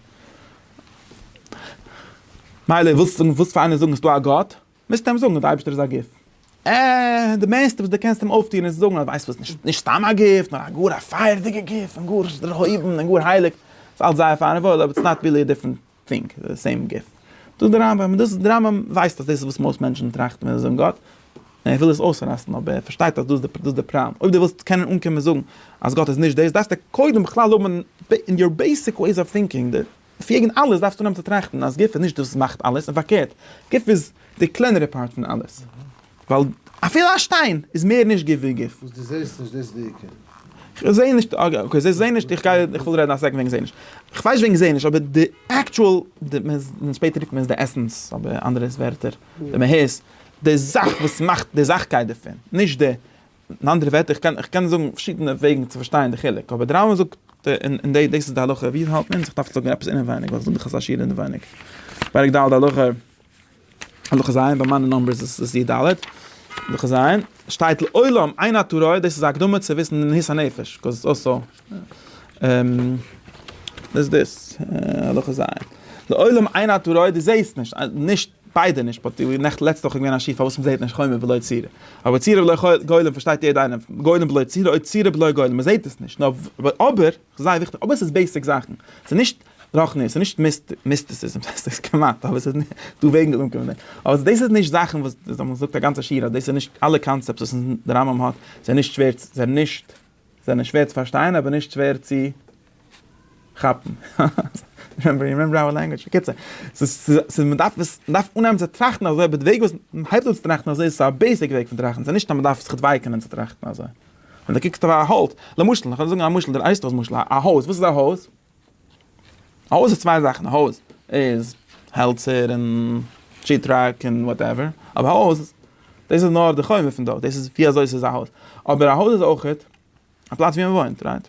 מילא ווילסט זאגן ווילסט פאר איינער זאגן ס'דא א גאט, מוזטו אים זאגן אז די אייבערשטער איז א גוף. אה, די מערסטע וואס די קענסט אים אויפטוען איז זאגן אז ווייסט וואס נישט נישט סתם א גוף, נאר א גאר א פייערדיגע גוף, און גאר דערהויבן און גאר הייליג. ס'אלץ זייער פיין און וואויל, אבער איטס נאט ריעלי א דיפרענט פונקט די סעים גוף. זאגט דער רמב ם, דאס דער רמב ם ווייסט אז דאס איז וואס מאסט מענטשן טראכטן ווען זיי זאגן גאט, און ער וויל עס אויסראסטן אבער ער פארשטייט אז דאס איז דאס דער פראבלעם, אויב דו ווילסט קענען אנקומען זאגן אז גאט איז נישט דאס דארפסטו קודם בכלל האבן אין יור בעיסיק וועיס אוו טינקינג די פיגן אלעס דארפסטו אנהייבן צו טראכטן אז גוף איז נישט דאס וואס מאכט אלעס און פארקערט גוף איז די קלענערע פארט פון אלעס. ווייל אפילו א שטיין איז מער נישט גוף ווי גוף. וואס דו זעסט נישט, דאס איז די עיקר. כ'זע נישט, אקעי, זע נישט, איך גיי, איך וויל רעדן א סעקנד וועגן זע נישט. כ'ווייס נישט וועגן זע נישט, אבער די עקטשועל, די, שפעטער רופט מען עס די עסענס, אבער אנדערע ווערטער, די מהות, די זאך וואס מאכט די זאכקייט דערפון, נישט די, אין אנדערע ווערטער, איך קען, כ'קען זאגן פארשידענע וועגן צו פארשטיין די חילוק, אבער די רמב ם זאגט, און דאס איז די הלכה ווי עס האלט מען, איך דארף זאגן עפעס אינעווייניג, ווייל איך זאג דיך אזא שיעור אינעווייניג, פרק ד' הלכה. הלכה ז, ביי מיינע נאמבערס איז עס י ד, הלכה ז, שטייט לעולם עיין הטורי, דאס איז א הקדמה צו וויסן די מהות הנפש, קאוז איטס אלסא, דאס איז דאס, הלכה ז, לעולם עיין הטורי, דו זעסט נישט, נישט, ביידע נישט, באט די נעכט לעצטע וואך איז געווען א שיעור פארוואס מען זעט נישט חומר בלא צורה, אבער צורה בלא גולם פארשטייט יעדע איינער, גולם בלא צורה אוי צורה בלא גולם, מען זעט עס נישט, אבער, זייער וויכטיג, אבער עס איז בעיסיק זאכן, עס איז נישט. רח נ, ס'איז נישט מיסטיסיזם, ס'איז כמעט, אבער ס'איז דא וועגן די אומקום, אבער דאס איז נישט זאכן וואס דאס האט מען געזאגט א גאנצע שיעור אז דאס איז נישט אלע קאנצעפטס וואס די רמב ם האט זענען נישט שווער צו זענען נישט זענען שווער צו פארשטיין אבער נישט שווער צו כאפן, רימעמבער יו רימעמבער אווער לענגוויטש, בקיצור, ס'איז מ'דארף עס מ'דארף אנהייבן צו טראכטן אזוי אבער די וועג וויאזוי מ'הייבט אן צו טראכטן אזוי איז א בעיסיק וועג פון טראכטן, ס'איז נישט אז מ'דארף זיך דווייקענען צו טראכטן אזוי, ווען די קוקסט אויף א האלץ, למשל, כ'וועל זאגן א משל, די ווייסט דאס משל, א הויז, וואס איז א הויז? א הויז איז צוויי זאכן, א הויז איז העלצער און שיעט-ראק און וואטעווער, אבער א הויז דאס איז נאר די חומר פון דארט, דאס איז ווי אזוי עס איז א הויז, אבער א הויז איז אויכעט א פלאץ ווי מען וואוינט, רייט?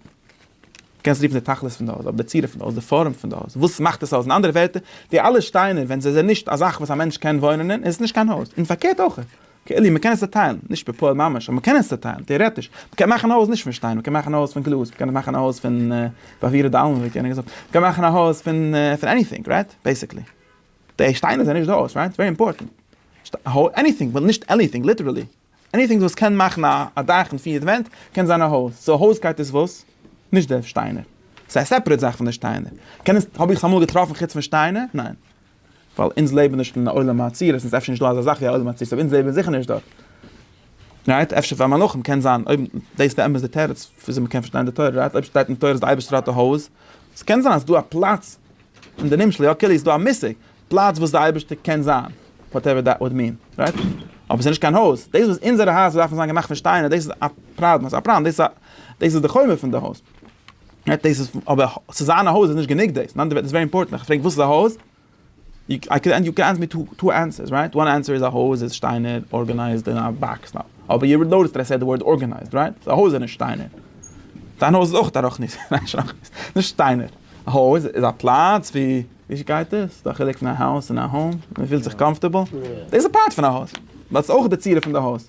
קענסט רופן די תכלית פון די הויז, אבער די צורה פון די הויז, די פארעם פון די הויז, וואס מאכט עס א הויז, אין אנדערע ווערטער, די אלע שטיינער ווען זיי זענען נישט א זאך וואס א מענטש קען וואוינען אין, איז עס נישט קיין הויז, און פארקערט אויכעט, כאילו מען קען עס צעטיילן, נישט בפועל ממש, אבער מען קען עס צעטיילן, טעארעטיש, מען קען מאכן א הויז נישט פון שטיין, מען קען מאכן א הויז פון גלאז, מען קען מאכן א הויז פון פאפירע דאלמען ווי כינע געזאגט, מען קען מאכן א הויז פון פון עניטינג, רייט? בעיסיקלי. די שטיינער זענען נישט די הויז, רייט? ווערי אימפארטענט. עניטינג, ווייל נישט עניטינג, ליטערלי. עניטינג וואס קען מאכן א א דאך און פיר ווענט, קען זיין א הויז. סאו הויזקייט איז וואס? נישט די שטיינער. ס'איז א סעפערעט זאך פון די שטיינער. קען עס, האב איך עס אמאל געטראפן חוץ פון שטיינער? ניין. ווייל אונז לעבן נישט אין א עולם העצירות, און ס'איז אפשר נישט דא אזא זאך ווי א עולם העצירות, אבער אונז לעבן זיכער נישט דארט. רייט? אפשר פאר מלאכים קען זיין, אויב דאס באמת די תירוץ וויאזוי מ'קען פארשטיין די תורה, רייט? אויב שטייט אין תורה אז די אייבערשטער האט א הויז, עס קען זיין אז דא א פלאץ, אין די נמשל יא כולי, איז דא א מושג, פלאץ וואס די אייבערשטער קען זיין, וואטעווער דעט וואלד מין, רייט? אבער ס'איז נישט קיין הויז, דאס וואס אונזערע הייזער דארפן זיין געמאכט פון שטיינער, דאס איז א פראבלעם, דאס איז א פראבלעם, דאס איז דאס איז די חומר פון די הויז. דאס איז אבער צו זיין א הויז איז נישט גענוג דאס, נאנט דעוועט איז ווערי אימפארטענט, איך פרעג וואס איז א הויז? איי קען יו קען ענסער מי טו ענסערס רייט, וואן ענסער איז א הויז איז שטיינער ארגענייזד אין א באקס נאו, אבער יו נאוטיסד דעט איי סעד די ווארד ארגענייזד רייט, סאו א הויז איז נישט שטיינער, דיין הויז איז אויך א רחנית, ניין שרחנית, נישט שטיינער, א הויז איז א פלאץ ווי ווי גייט דאס? ס'איז דא א חילוק פון א האוז און א האום? מ'פילט זיך קאמפארטעבל? דאס איז א פארט פון א הויז, באט ס'איז אויך די צורה פון די הויז.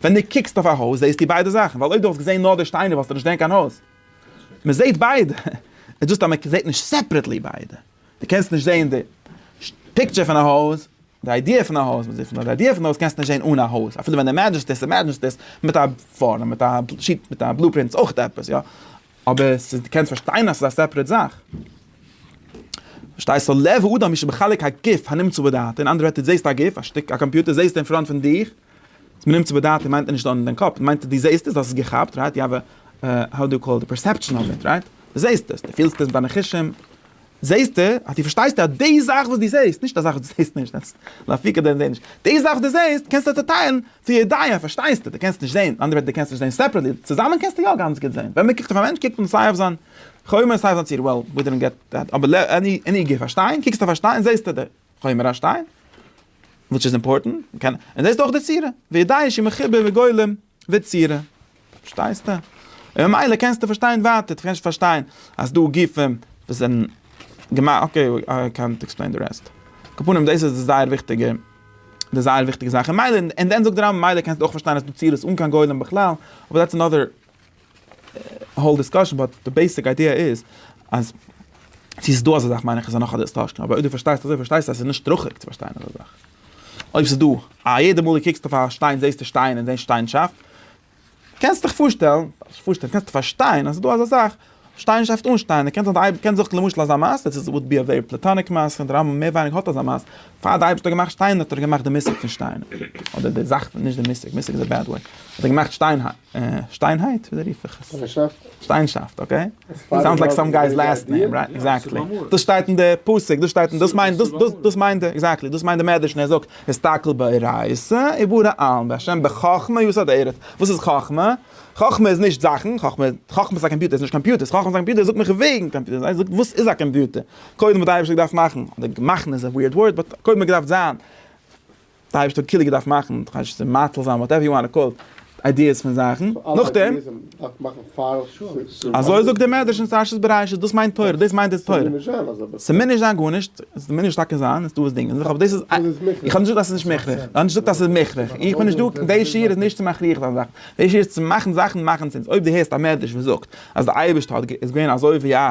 ווען דו קוקסט אויף א הויז זעהסטו ביידע זאכן, ווייל אויב דו וואלסט געזעהן נאר די שטיינער וואלסטו נישט געזעהן קיין הויז. מען זעהט ביידע, איז דאס אז מען זעהט נישט סעפרעטלי ביידע. דו קענסט נישט זעהן די פיקטשער פון א הויז, די איידיע פון א הויז, די איידיע פון די הויז קענסטו נישט זעהן אן א הויז, אפילו ווען דו אימעדזשענסט עס, אימעדזשענסט עס מיט א פארעם, מיט א שיט, מיט א בלופרינט איז אויך עפעס, יא. אבער עס איז, דו קענסט פארשטיין אז עס איז א סעפרעט זאך. פארשטייסט? לב האדם איז שבחלק הגוף הנמצא בדעתו, אין אנדערע ווערטער, דו זעהסט א גוף, א שטיק, א קאמפיוטער זעהסטו אין פראנט פון דיך, אז מ'נעמט צו בדעתי מיינט ער נישט דאן אין דיין קאפ, מיינט ער דו זעהסט עס, דו האסט עס געכאפט, רייט? יו האוו, האו דו קאל איט, פערסעפשאן אוו איט, רייט? דו זעהסט עס, דו פילסט עס מיט דיינע חושים, זעהסטו, אז דו פארשטייסט אז די זאך וואס דו זעהסט, נישט א זאך וואס דו זעהסט נישט, דעטס לאפיקא דען זעהן נישט, די זאך וואס דו זעהסט קענסטו צוטיילן צו ידיעה, פארשטייסטו, דו קענסט נישט זעהן, מיט אנדערע ווערטער דו קענסט נישט זעהן סעפערעטלי, צוזאמען קענסטו יא גאנץ גוט זעהן, ווען מ'קוקט אויף א מענטש קוקט מען סיי אויף זיין חומר סיי אויף זיין צורה, well we didn't get that, אבער עני גוף א שטיין, קוקסטו אויף א שטיין זעהסטו די. חומר השטיין, וויטש איז אימפארטענט, און דאס איז אויך די צורה, וידעי שהיא מחובר וגולם וצורה, פארשטייסטו? און ממילא קענסטו פארשטיין ווייטער, דו קענסט פארשטיין אז דא גופים וואס זענען געמאכט, אקעי איי קענט עקספלעין די רעסט, על כל פנים דאס איז זייער וויכטיגע, די זייער וויכטיגע זאך, און ממילא, און דען זאגט די רמב ם ממילא קענסטו אויך פארשטיין אז ס'איז דא צירות אן קיין גולם בכלל, אבער דעטס אנאדער. האול דיסקאשען באט די בעיסיק איידיע איז אז צו ס'איז דא אזא זאך מיין איך איז נאך א דיסטארשען אבער אויב דו פארשטייסט אזוי פארשטייסטו אז ס'איז נישט שטראכעדיג צו פארשטיין אזא זאך אויב ס'איז דא א יעדע מאל דו קוקסט אויף א שטיין זעסטו שטיין און זען שטיינשאפט קענסטיך פארשטעלן נישט פארשטעלן קענסטו פארשטיין אז ס'איז דא אזא זאך שטיינשאפט אן שטיין קען זיין די קען זיך למשל אזא מעשה דאס וואלט בי א ווערי פלעטאניק מעשה און די רמב ם מער ווייניגער האט אזא מעשה פאר די אייבערשטער האט געמאכט שטיין האט ער געמאכט די מושג פון שטיין אדער די זאך פון נישט די מושג מושג איז א בעד ווארד האט ער געמאכט שטיין שטיינהייט? וויאזוי רוף איך עס? שטיינסאפט. שטיינסאפט, אקעי. סאונדס לייק סאם גיי'ס לאסט נעים, רייט? עקזעקטלי. דאס שטייט אין די פסוק, דאס שטייט אין, דאס מיינט, דאס, דאס, דאס מיינט ער, עקזעקטלי, דאס מיינט די מדרש ווען ער זאגט, הסתכל באורייתא ובורא עלם, והשם בחכמה יסד ארץ. וואס איז חכמה? חכמה איז נישט זאכן, חכמה, חכמה איז א קאמפיוטער, עס איז נישט קאמפיוטערס, חכמה איז א קאמפיוטער, ער זאגט מיך וועגן קאמפיוטערס, ער זאגט וואס איז א קאמפיוטער. קודם האט די אייבערשטער געדארפט מאכן, אדער מאכן איז א וויערד ווארד, באט קודם האט געדארפט זיין, די אייבערשטער האט קילע געדארפט מאכן, כ'ווייס נישט צו מאציל זיין, וואטעווער יו וואנט טו קאל איט, איידיעס פון זאכן, נאכדעם, אזוי זאגט דער מדרש אין פרשת בראשית, דאס מיינט תורה, דאס מיינט די תורה, ס'מוז נישט זיין גארנישט, ס'מוז טאקע זיין, איז דא וואס דינגען זיך, אבער דאס איז, איך האב נישט געזאגט אז ס'איז נישט מוכרח, איך האב נישט געזאגט אז ס'איז מוכרח, איך בין נישט דא, די שיעור איז נישט צו מכריח זיין זאכן, די שיעור איז צו מאכן זאכן מאכן סענס, אויב דו הערסט א מדרש וואס זאגט אז די אייבערשטער האט איז געווען אזוי ווי א.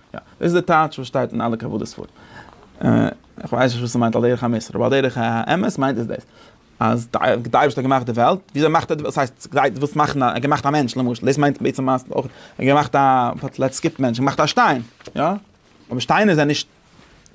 יא, דאס איז די טייטש וואס שטייט אין אלע קבלה ספרים. איך ווייס נישט וואס ס'מיינט על דרך המוסר, אבער על דרך האמת מיינט עס דאס, אז די אייבערשטער האט געמאכט די וועלט, וויאזוי מאכט ער די וועלט, ס'הייסט ס'גייט וואס מאכן א, ער האט געמאכט א מענטש למשל, דאס מיינט בעצם אז ער האט געמאכט א, לעטס סקיפ מענטש, ער האט געמאכט א שטיין, יא? אבער שטיינער זענען נישט,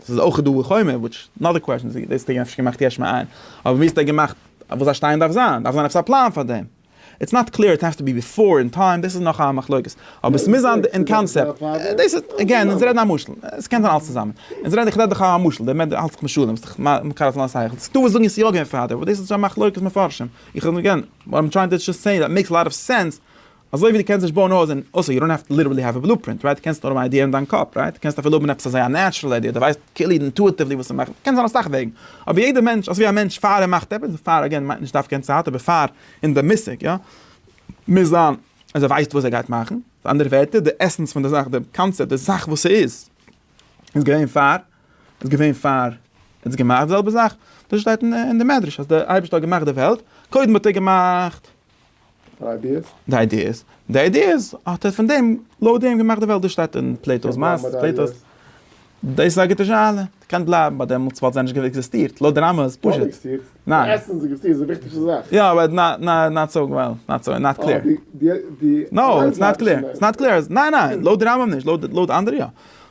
ס'איז אויך דא די חומר, וויטש אנאדער קוועסשאן, דאס האט ער אפשר געמאכט יש מאין, אבער ווי האט ער געמאכט וואס א שטיין דארף זיין, דארף זיין עפעס א פלאן פאר דעם. איטס נאט קלעיר, איט העס טו בי ביפאר אין טיים, דאס איז נאך א מחלוקת, אבער עס מוז זיין אין קאנסעפט, דאס איז, עגעין, אונז רעדן א משל, עס קען זיין אלס צוזאמען, אונז רעדן, איך רעד דאך א משל, דער מענטש האלט זיך משלים, ס'איז דאך מקל אויף זיין שכל, ס'איז דא וואס זאגן עס יא געווען פארדעם, אבער דאס איז שוין מחלוקת מפרשים, איך רעד עגעין, וואט איים טרייענג טו דזשאסט סעי איז, מעיקס לאט אוו סענס, אזוי ווי דו קענסט נישט בויען א הויז אין, אויסער יו דאנט האוו טו ליטערלי האוו א בלו פרינט, רייט, דו קענסט נאר האבן א איידיע אין דיין קאפ, רייט, דו קענסט אפילו האבן עפעס אזוי א נעטשרעל איידיע, דו ווייסט כאילו אינטואיטיוולי וואס צו מאכן, קען זיין אסאך וועגן. אבער יעדער מענטש, אזויווי א מענטש פאר ער מאכט עפעס, פאר אגעין מיינט נישט דווקא אין צייט, אבער פאר אין די מושג יא, מוז זיין אז ער ווייסט וואס ער גייט מאכן, מיט אנדערע ווערטער די עסענס פון די זאך, די קאנצעפט, די זאך וואס ס'איז, איז געווען פאר, איז געווען פאר ער האט געמאכט, די זעלבע זאך, דאס שטייט אין די מדרש אז די אייבערשטער האט געמאכט די וועלט, קודם האט ער געמאכט. די איידיעס? די איידיעס. די איידיעס האט ער פון דעם, לויט דעם געמאכט די וועלט. דאס שטייט אין פלעיטא'ס מעשה, פלעיטא'ס. דאס איז א גוטע שאלה. קען בלייבן ביי דעמאלטס וואלט זיי נישט געווע עקזיסטירט. לויט די רמז, פשוט. ניין. עסן איז עקזיסטירט, איז די וויכטיגסטע זאך. יא, אבער נאט סאו וועל, נאט סאו, נאט קלער. נאו, איטס נאט קלער. איטס נאט קלער. ניין ניין, לויט די רמב ם נישט, לויט אנדערע יא.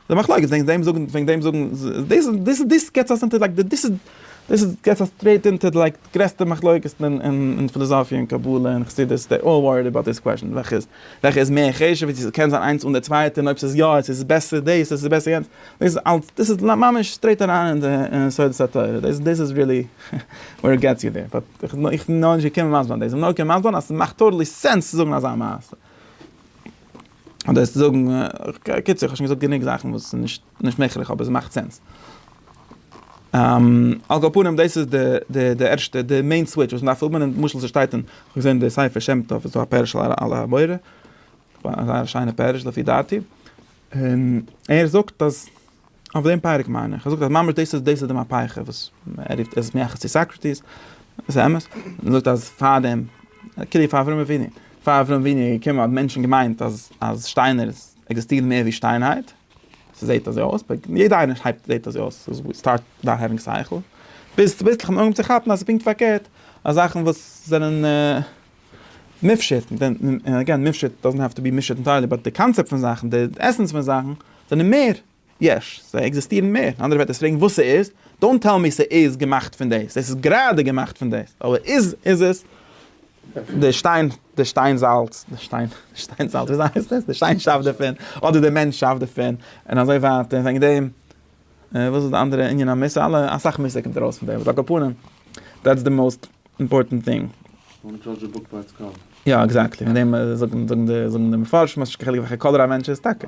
די מחלוקת וועגן דעם זאגן, וועגן דעם זאגן, דאס איז, דאס איז, דאס געט זיך אסאך אינטעלעקט, דאס איז. דאס איז געס אז סטרעיט אונטער די לייק גרעסטע מחלוקת'ן אין פילאזאפיע און קבלה און חסידות דעי אלל וואריד אבאוט דיס קוועשאן וועלכע איז וועלכע איז מער חשוב ווי צו קען זיין איינס אן די צווייטע און אויב ס'איז יא איז עס בעסער דאס אדער ס'איז בעסער יענץ דאס איז אלץ דאס איז ממש סטרעיט אריין אין די יסודות התורה דאס דאס איז ריעלי ווער איט געטס יו דער באט איך בין איך בין נאכנישט געקומען מסביר זיין דאס כ'בין נאר געקומען מסביר זיין אז ס'מאכט טאטעלי סענס צו זאגן אזא מעשה אדער צו זאגן קיצור כ'האב שוין געזאגט גענוג זאכן וואס איז נישט נישט מעכערליך אבער ס'מאכט סענס. על כל פנים דאס איז די די ערשטע די מעין סוויטש וואס מ'דארף האבן און למשל ס'שטייט אין כ'האב געזען אין די ספר שם טוב איז דא א פירוש על על המורה א זייער שיינע פירוש לפי דעתי און ער זאגט אז אויף דעם פרק מיין איך ער זאגט אז ממש דאס איז דאס איז די מהפכה וואס ער רופט עס מייחס צו סאקרעטיס עס איז אמת ער זאגט אז פאר דעם כאילו פאר אברהם אבינו פאר אברהם אבינו איז געקומען האבן מענטשן געמיינט אז אז שטיינער עקזיסטירן מער ווי שטיינהייט. ס'זעהט אזוי אויס, ביי יעדע איינער הייבט זעהט אזוי אויס, סטארט נאו העווינג סייכל, ביז צוביסלעך מ'אנהויבן צו כאפן אז ס'פונקט פארקערט, אז זאכן וואס זענען מופשט, און עגעין מופשט דאזענט העוו טו בי מופשט אינטיירלי, באט די קאנצעפט פון זאכן, די עסענס פון זאכן, זענען מער יש, זיי עקזיסטירן מער, און אנדערע ווערטער פרעגן וואס ס'איז, דאונט טעל מי ס'איז געמאכט פון דאס, עס איז גראדע געמאכט פון דאס, אבער איז עס? די שטיין, די שטיין זאלץ, די שטיין, די שטיין זאלץ, וויאזוי הייסט עס? די שטיין שאפט דערפון, אדער די מענטש שאפט דערפון, און אזוי ווייטער, וועגן דעם, וואס איז די אנדערע ענין המוסר? אלע, אסאך מוסר קומט ארויס פון דעם, אבער על כל פנים, דעטס די מאוסט אימפארטענט טינג. דאנט דזשאדזש א בוק ביי איטס קאווער. יא, עקזעקטלי, וועגן דעם זאגן די מפרשים אז נישט קיין חילוק וועלכע קאלער א מענטש איז, טאקע.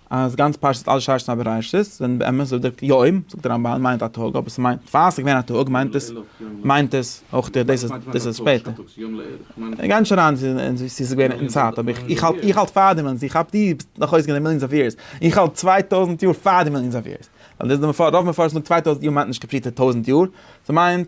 אז גאנץ פרשת אל שרש איז א בראשית, ווען באמת זאגט דער יום, זאגט דער רמבן, מיינט א טאג, אבער ס'מיינט, פאר ס'איז געווען א טאג מיינט עס, מיינט עס אויך די, דאס איז, דאס איז שפעטער. איך גיי נישט אריין אין צו ס'איז געווען אין צייט, אבער איך, איך האלט, איך האלט פאר דעם אז איך האב, דו ביסט נאך אויסגעגאנגען די מיליאנס אוו יערס, איך האלט צוויי טויזנט יאר פאר די מיליאנס אוו יערס, ווייל דאס איז די מפרש, רוב מפרשים זאגן צוויי טויזנט יאר מיינט נישט קאפריטע טויזנט יאר, ס'מיינט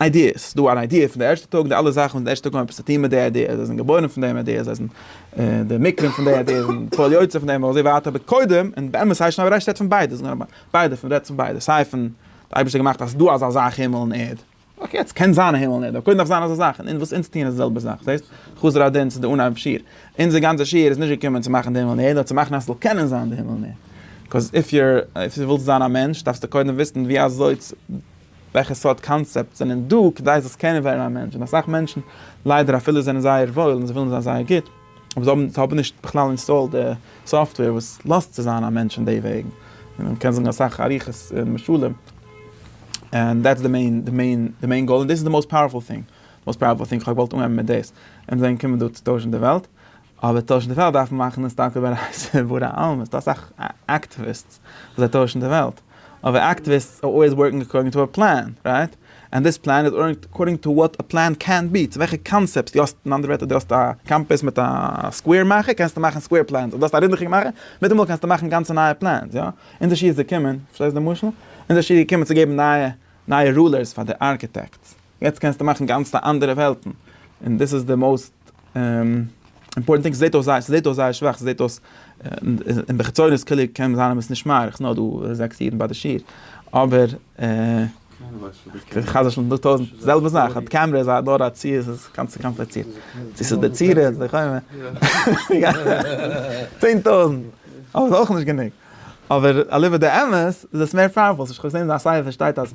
איידיעס, ס'איז דא אן איידיע פון די ערשטע טאג, די אלע זאכן פון די ערשטע טאג האבן עפעס צו טון מיט די איידיע, זיי זענען געבוירן פון דעם איידיע, זיי זענען די מקרים פון די איידיע, זיי זענען פועל יוצא פון דעם, אזוי ווייטער, אבער קודם, און באמת הייסט שוין אויף רעשט רעדט פון ביידע, ביידע פון רעדט פון ביידע, סיי פון די אייבערשטער האט געמאכט אז ס'איז דא אזא זאך הימל און ערד, אקעי יעצט קען זיין א הימל און ערד, אבער קודם דארף זיין אזא זאך, און וואס אונז טוען איז די זעלבע זאך, זעהסט? חזר א דין צו די אנהייב שיעור, אונזער גאנצע שיעור איז נישט געקומען צו מאכן די הימל און ערד, נאר צו מאכן אז ס'זאל קענען זיין די הימל און ערד, קאז איף יור, אויב די ווילסט זיין א מענטש דארפסטו קודם וויסן ווי אזוי צו. וועלכע סארט קאנצעפטס זענען דא כדי זאלסט קענען ווערן א מענטש, און אסאך מענטשן ליידער אפילו זענען זייער וואויל און זיי ווילן זיין זייער גוט, אבער זיי האבן נישט בכלל אינסטאלד די סאפטוועיר וואס לאזט צו זיין א מענטש אין די וועגן, און מען קען זאגן אסאך אריכות און משלים, און דעטס די מעין די מעין די מעין גאול און דאס איז די מאוסט פאוערפול טינג, מאוסט פאוערפול טינג, כ'האב געוואלט אנהייבן מיט דאס, און דאן קומען דא צו טוישן די וועלט, אבער טוישן די וועלט דארף מען מאכן עס טאקע אויף א רייזע וואו די אלמען איז דא אסאך אקטיוויסטס וואס זיי טוישן די וועלט אבער אקטיוויסטס אר אלוועיס ווארקינג אקארדינג טו א פלאן רייט ענד דיס פלאן איז אר אקארדינג טו וואט א פלאן קען בי צו וועלכע קאנצעפט די האסט אין אנדערע ווערטער די האסט א קאמפעס מיט א סקווער מאכער קענסטו מאכן סקווער פלאנס אויב די האסט א רינדעכיגע מאכער מיטאמאל קענסטו מאכן גאנצע נייע פלאנס יא אונזער שי איז געקומען פארשטייסט די משל אונזער שי איז געקומען צו געבן נייע נייע רולערס פאר די ארקיטעקטס. יעצט קענסטו מאכן גאנצעטע אנדערע וועלטן, און דאס איז די מאוסט אימפארטענט טינג, ס'זעט אויס זייער ס'זעט אויס זייער שוואך, ס'זעט אויס אין די חיצוניות כאילו קען זיין אז עס נישט מאריך, ס'נאר דא זעקס אידן ביי די שיעור, אבער חז ל זענען דא טויזנט, זעלבע זאך, א קעמרע איז נאר א צי, ס'איז גאנץ צו קאמפליצירט, צו ס'איז די צורה, צו די חומה, צען טויזנט, אבער ס'איז אויך נישט גענוג, אבער אליבא דאמת איז עס מער פאוערפול, כ'האב געזען אז א ספר שטייט אז.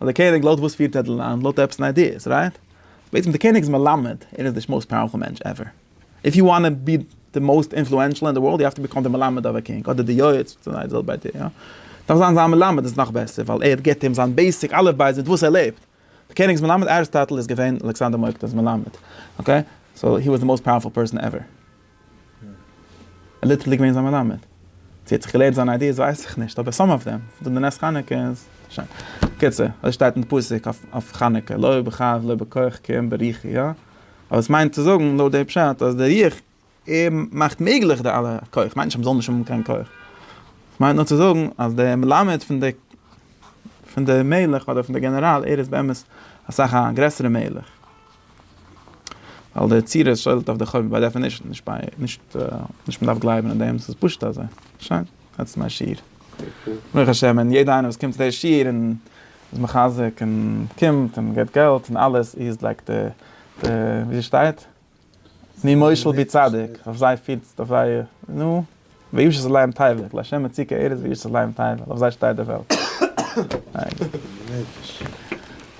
אז דער קעניג לויט וואס פירט ער די לאנד לויט עפעס אין איידיעס רייט? בעצם די קעניג איז מלמד ער איז די מאוסט פאוערפול מענטש עווער איף יו וואנט טו בי די מאוסט אינפלוענשעל אין די ווארלד יו האוו טו בעקאם די מלמד אוו א קינג אדער די יועץ פון זיי זאל ביי דיר דארף זיין זיין מלמד איז נאך בעסער ווייל ער גיבט אים זיין בעיסיק אלף בית מיט וואס ער לעבט די קעניגס מלמד אריסטאטל איז געווען אלעקסאנדער מוקדאן'ס מלמד אקעי סאו הי וואס די מאוסט פאוערפול פערסאן עווער. ליטערלי געווען זיין מלמד. צו ער האט זיך געלערנט זיינע איידיעס ווייס איך נישט, אבער סאם אף דעם, פון די נס חנוכה איז שוין. קיצור, אזוי שטייט אין די פסוק אויף חנוכה, לא בכף לא בכח כי אם ברוחי, יא? אבער עס מיינט צו זאגן לויט די פשט אז די רוח ער מאכט מעגליך די אלע כח, מיינט נישט אז מען זאל נישט האבן קיין כח. ס'מיינט נאר צו זאגן אז דער מלמד פון די פון די מלך אדער פון די גענעראל ער איז באמת אסאך א גרעסערע מלך. ווייל די יצירה שולט אויף די חורבן ביי דעפענישן, נישט ביי, נישט, נישט מ'דארף גלייבן אין דעם, ס'איז פשוט אזוי. שוין, דעטס מיי שיעור. ברוך השם, און יעדער איינער וואס קומט צו די שיעור און איז מחזק און קומט און געבט געלט און אלעס, איר לייגט די, די, ווי שטייט? מי מושל בי צדיק, אויף זיי פירטס, אויף זיי, נו, וישת עליהם תבל, לה' מציקה ארץ וישת עליהם תבל, אויף זיי שטייט די וועלט.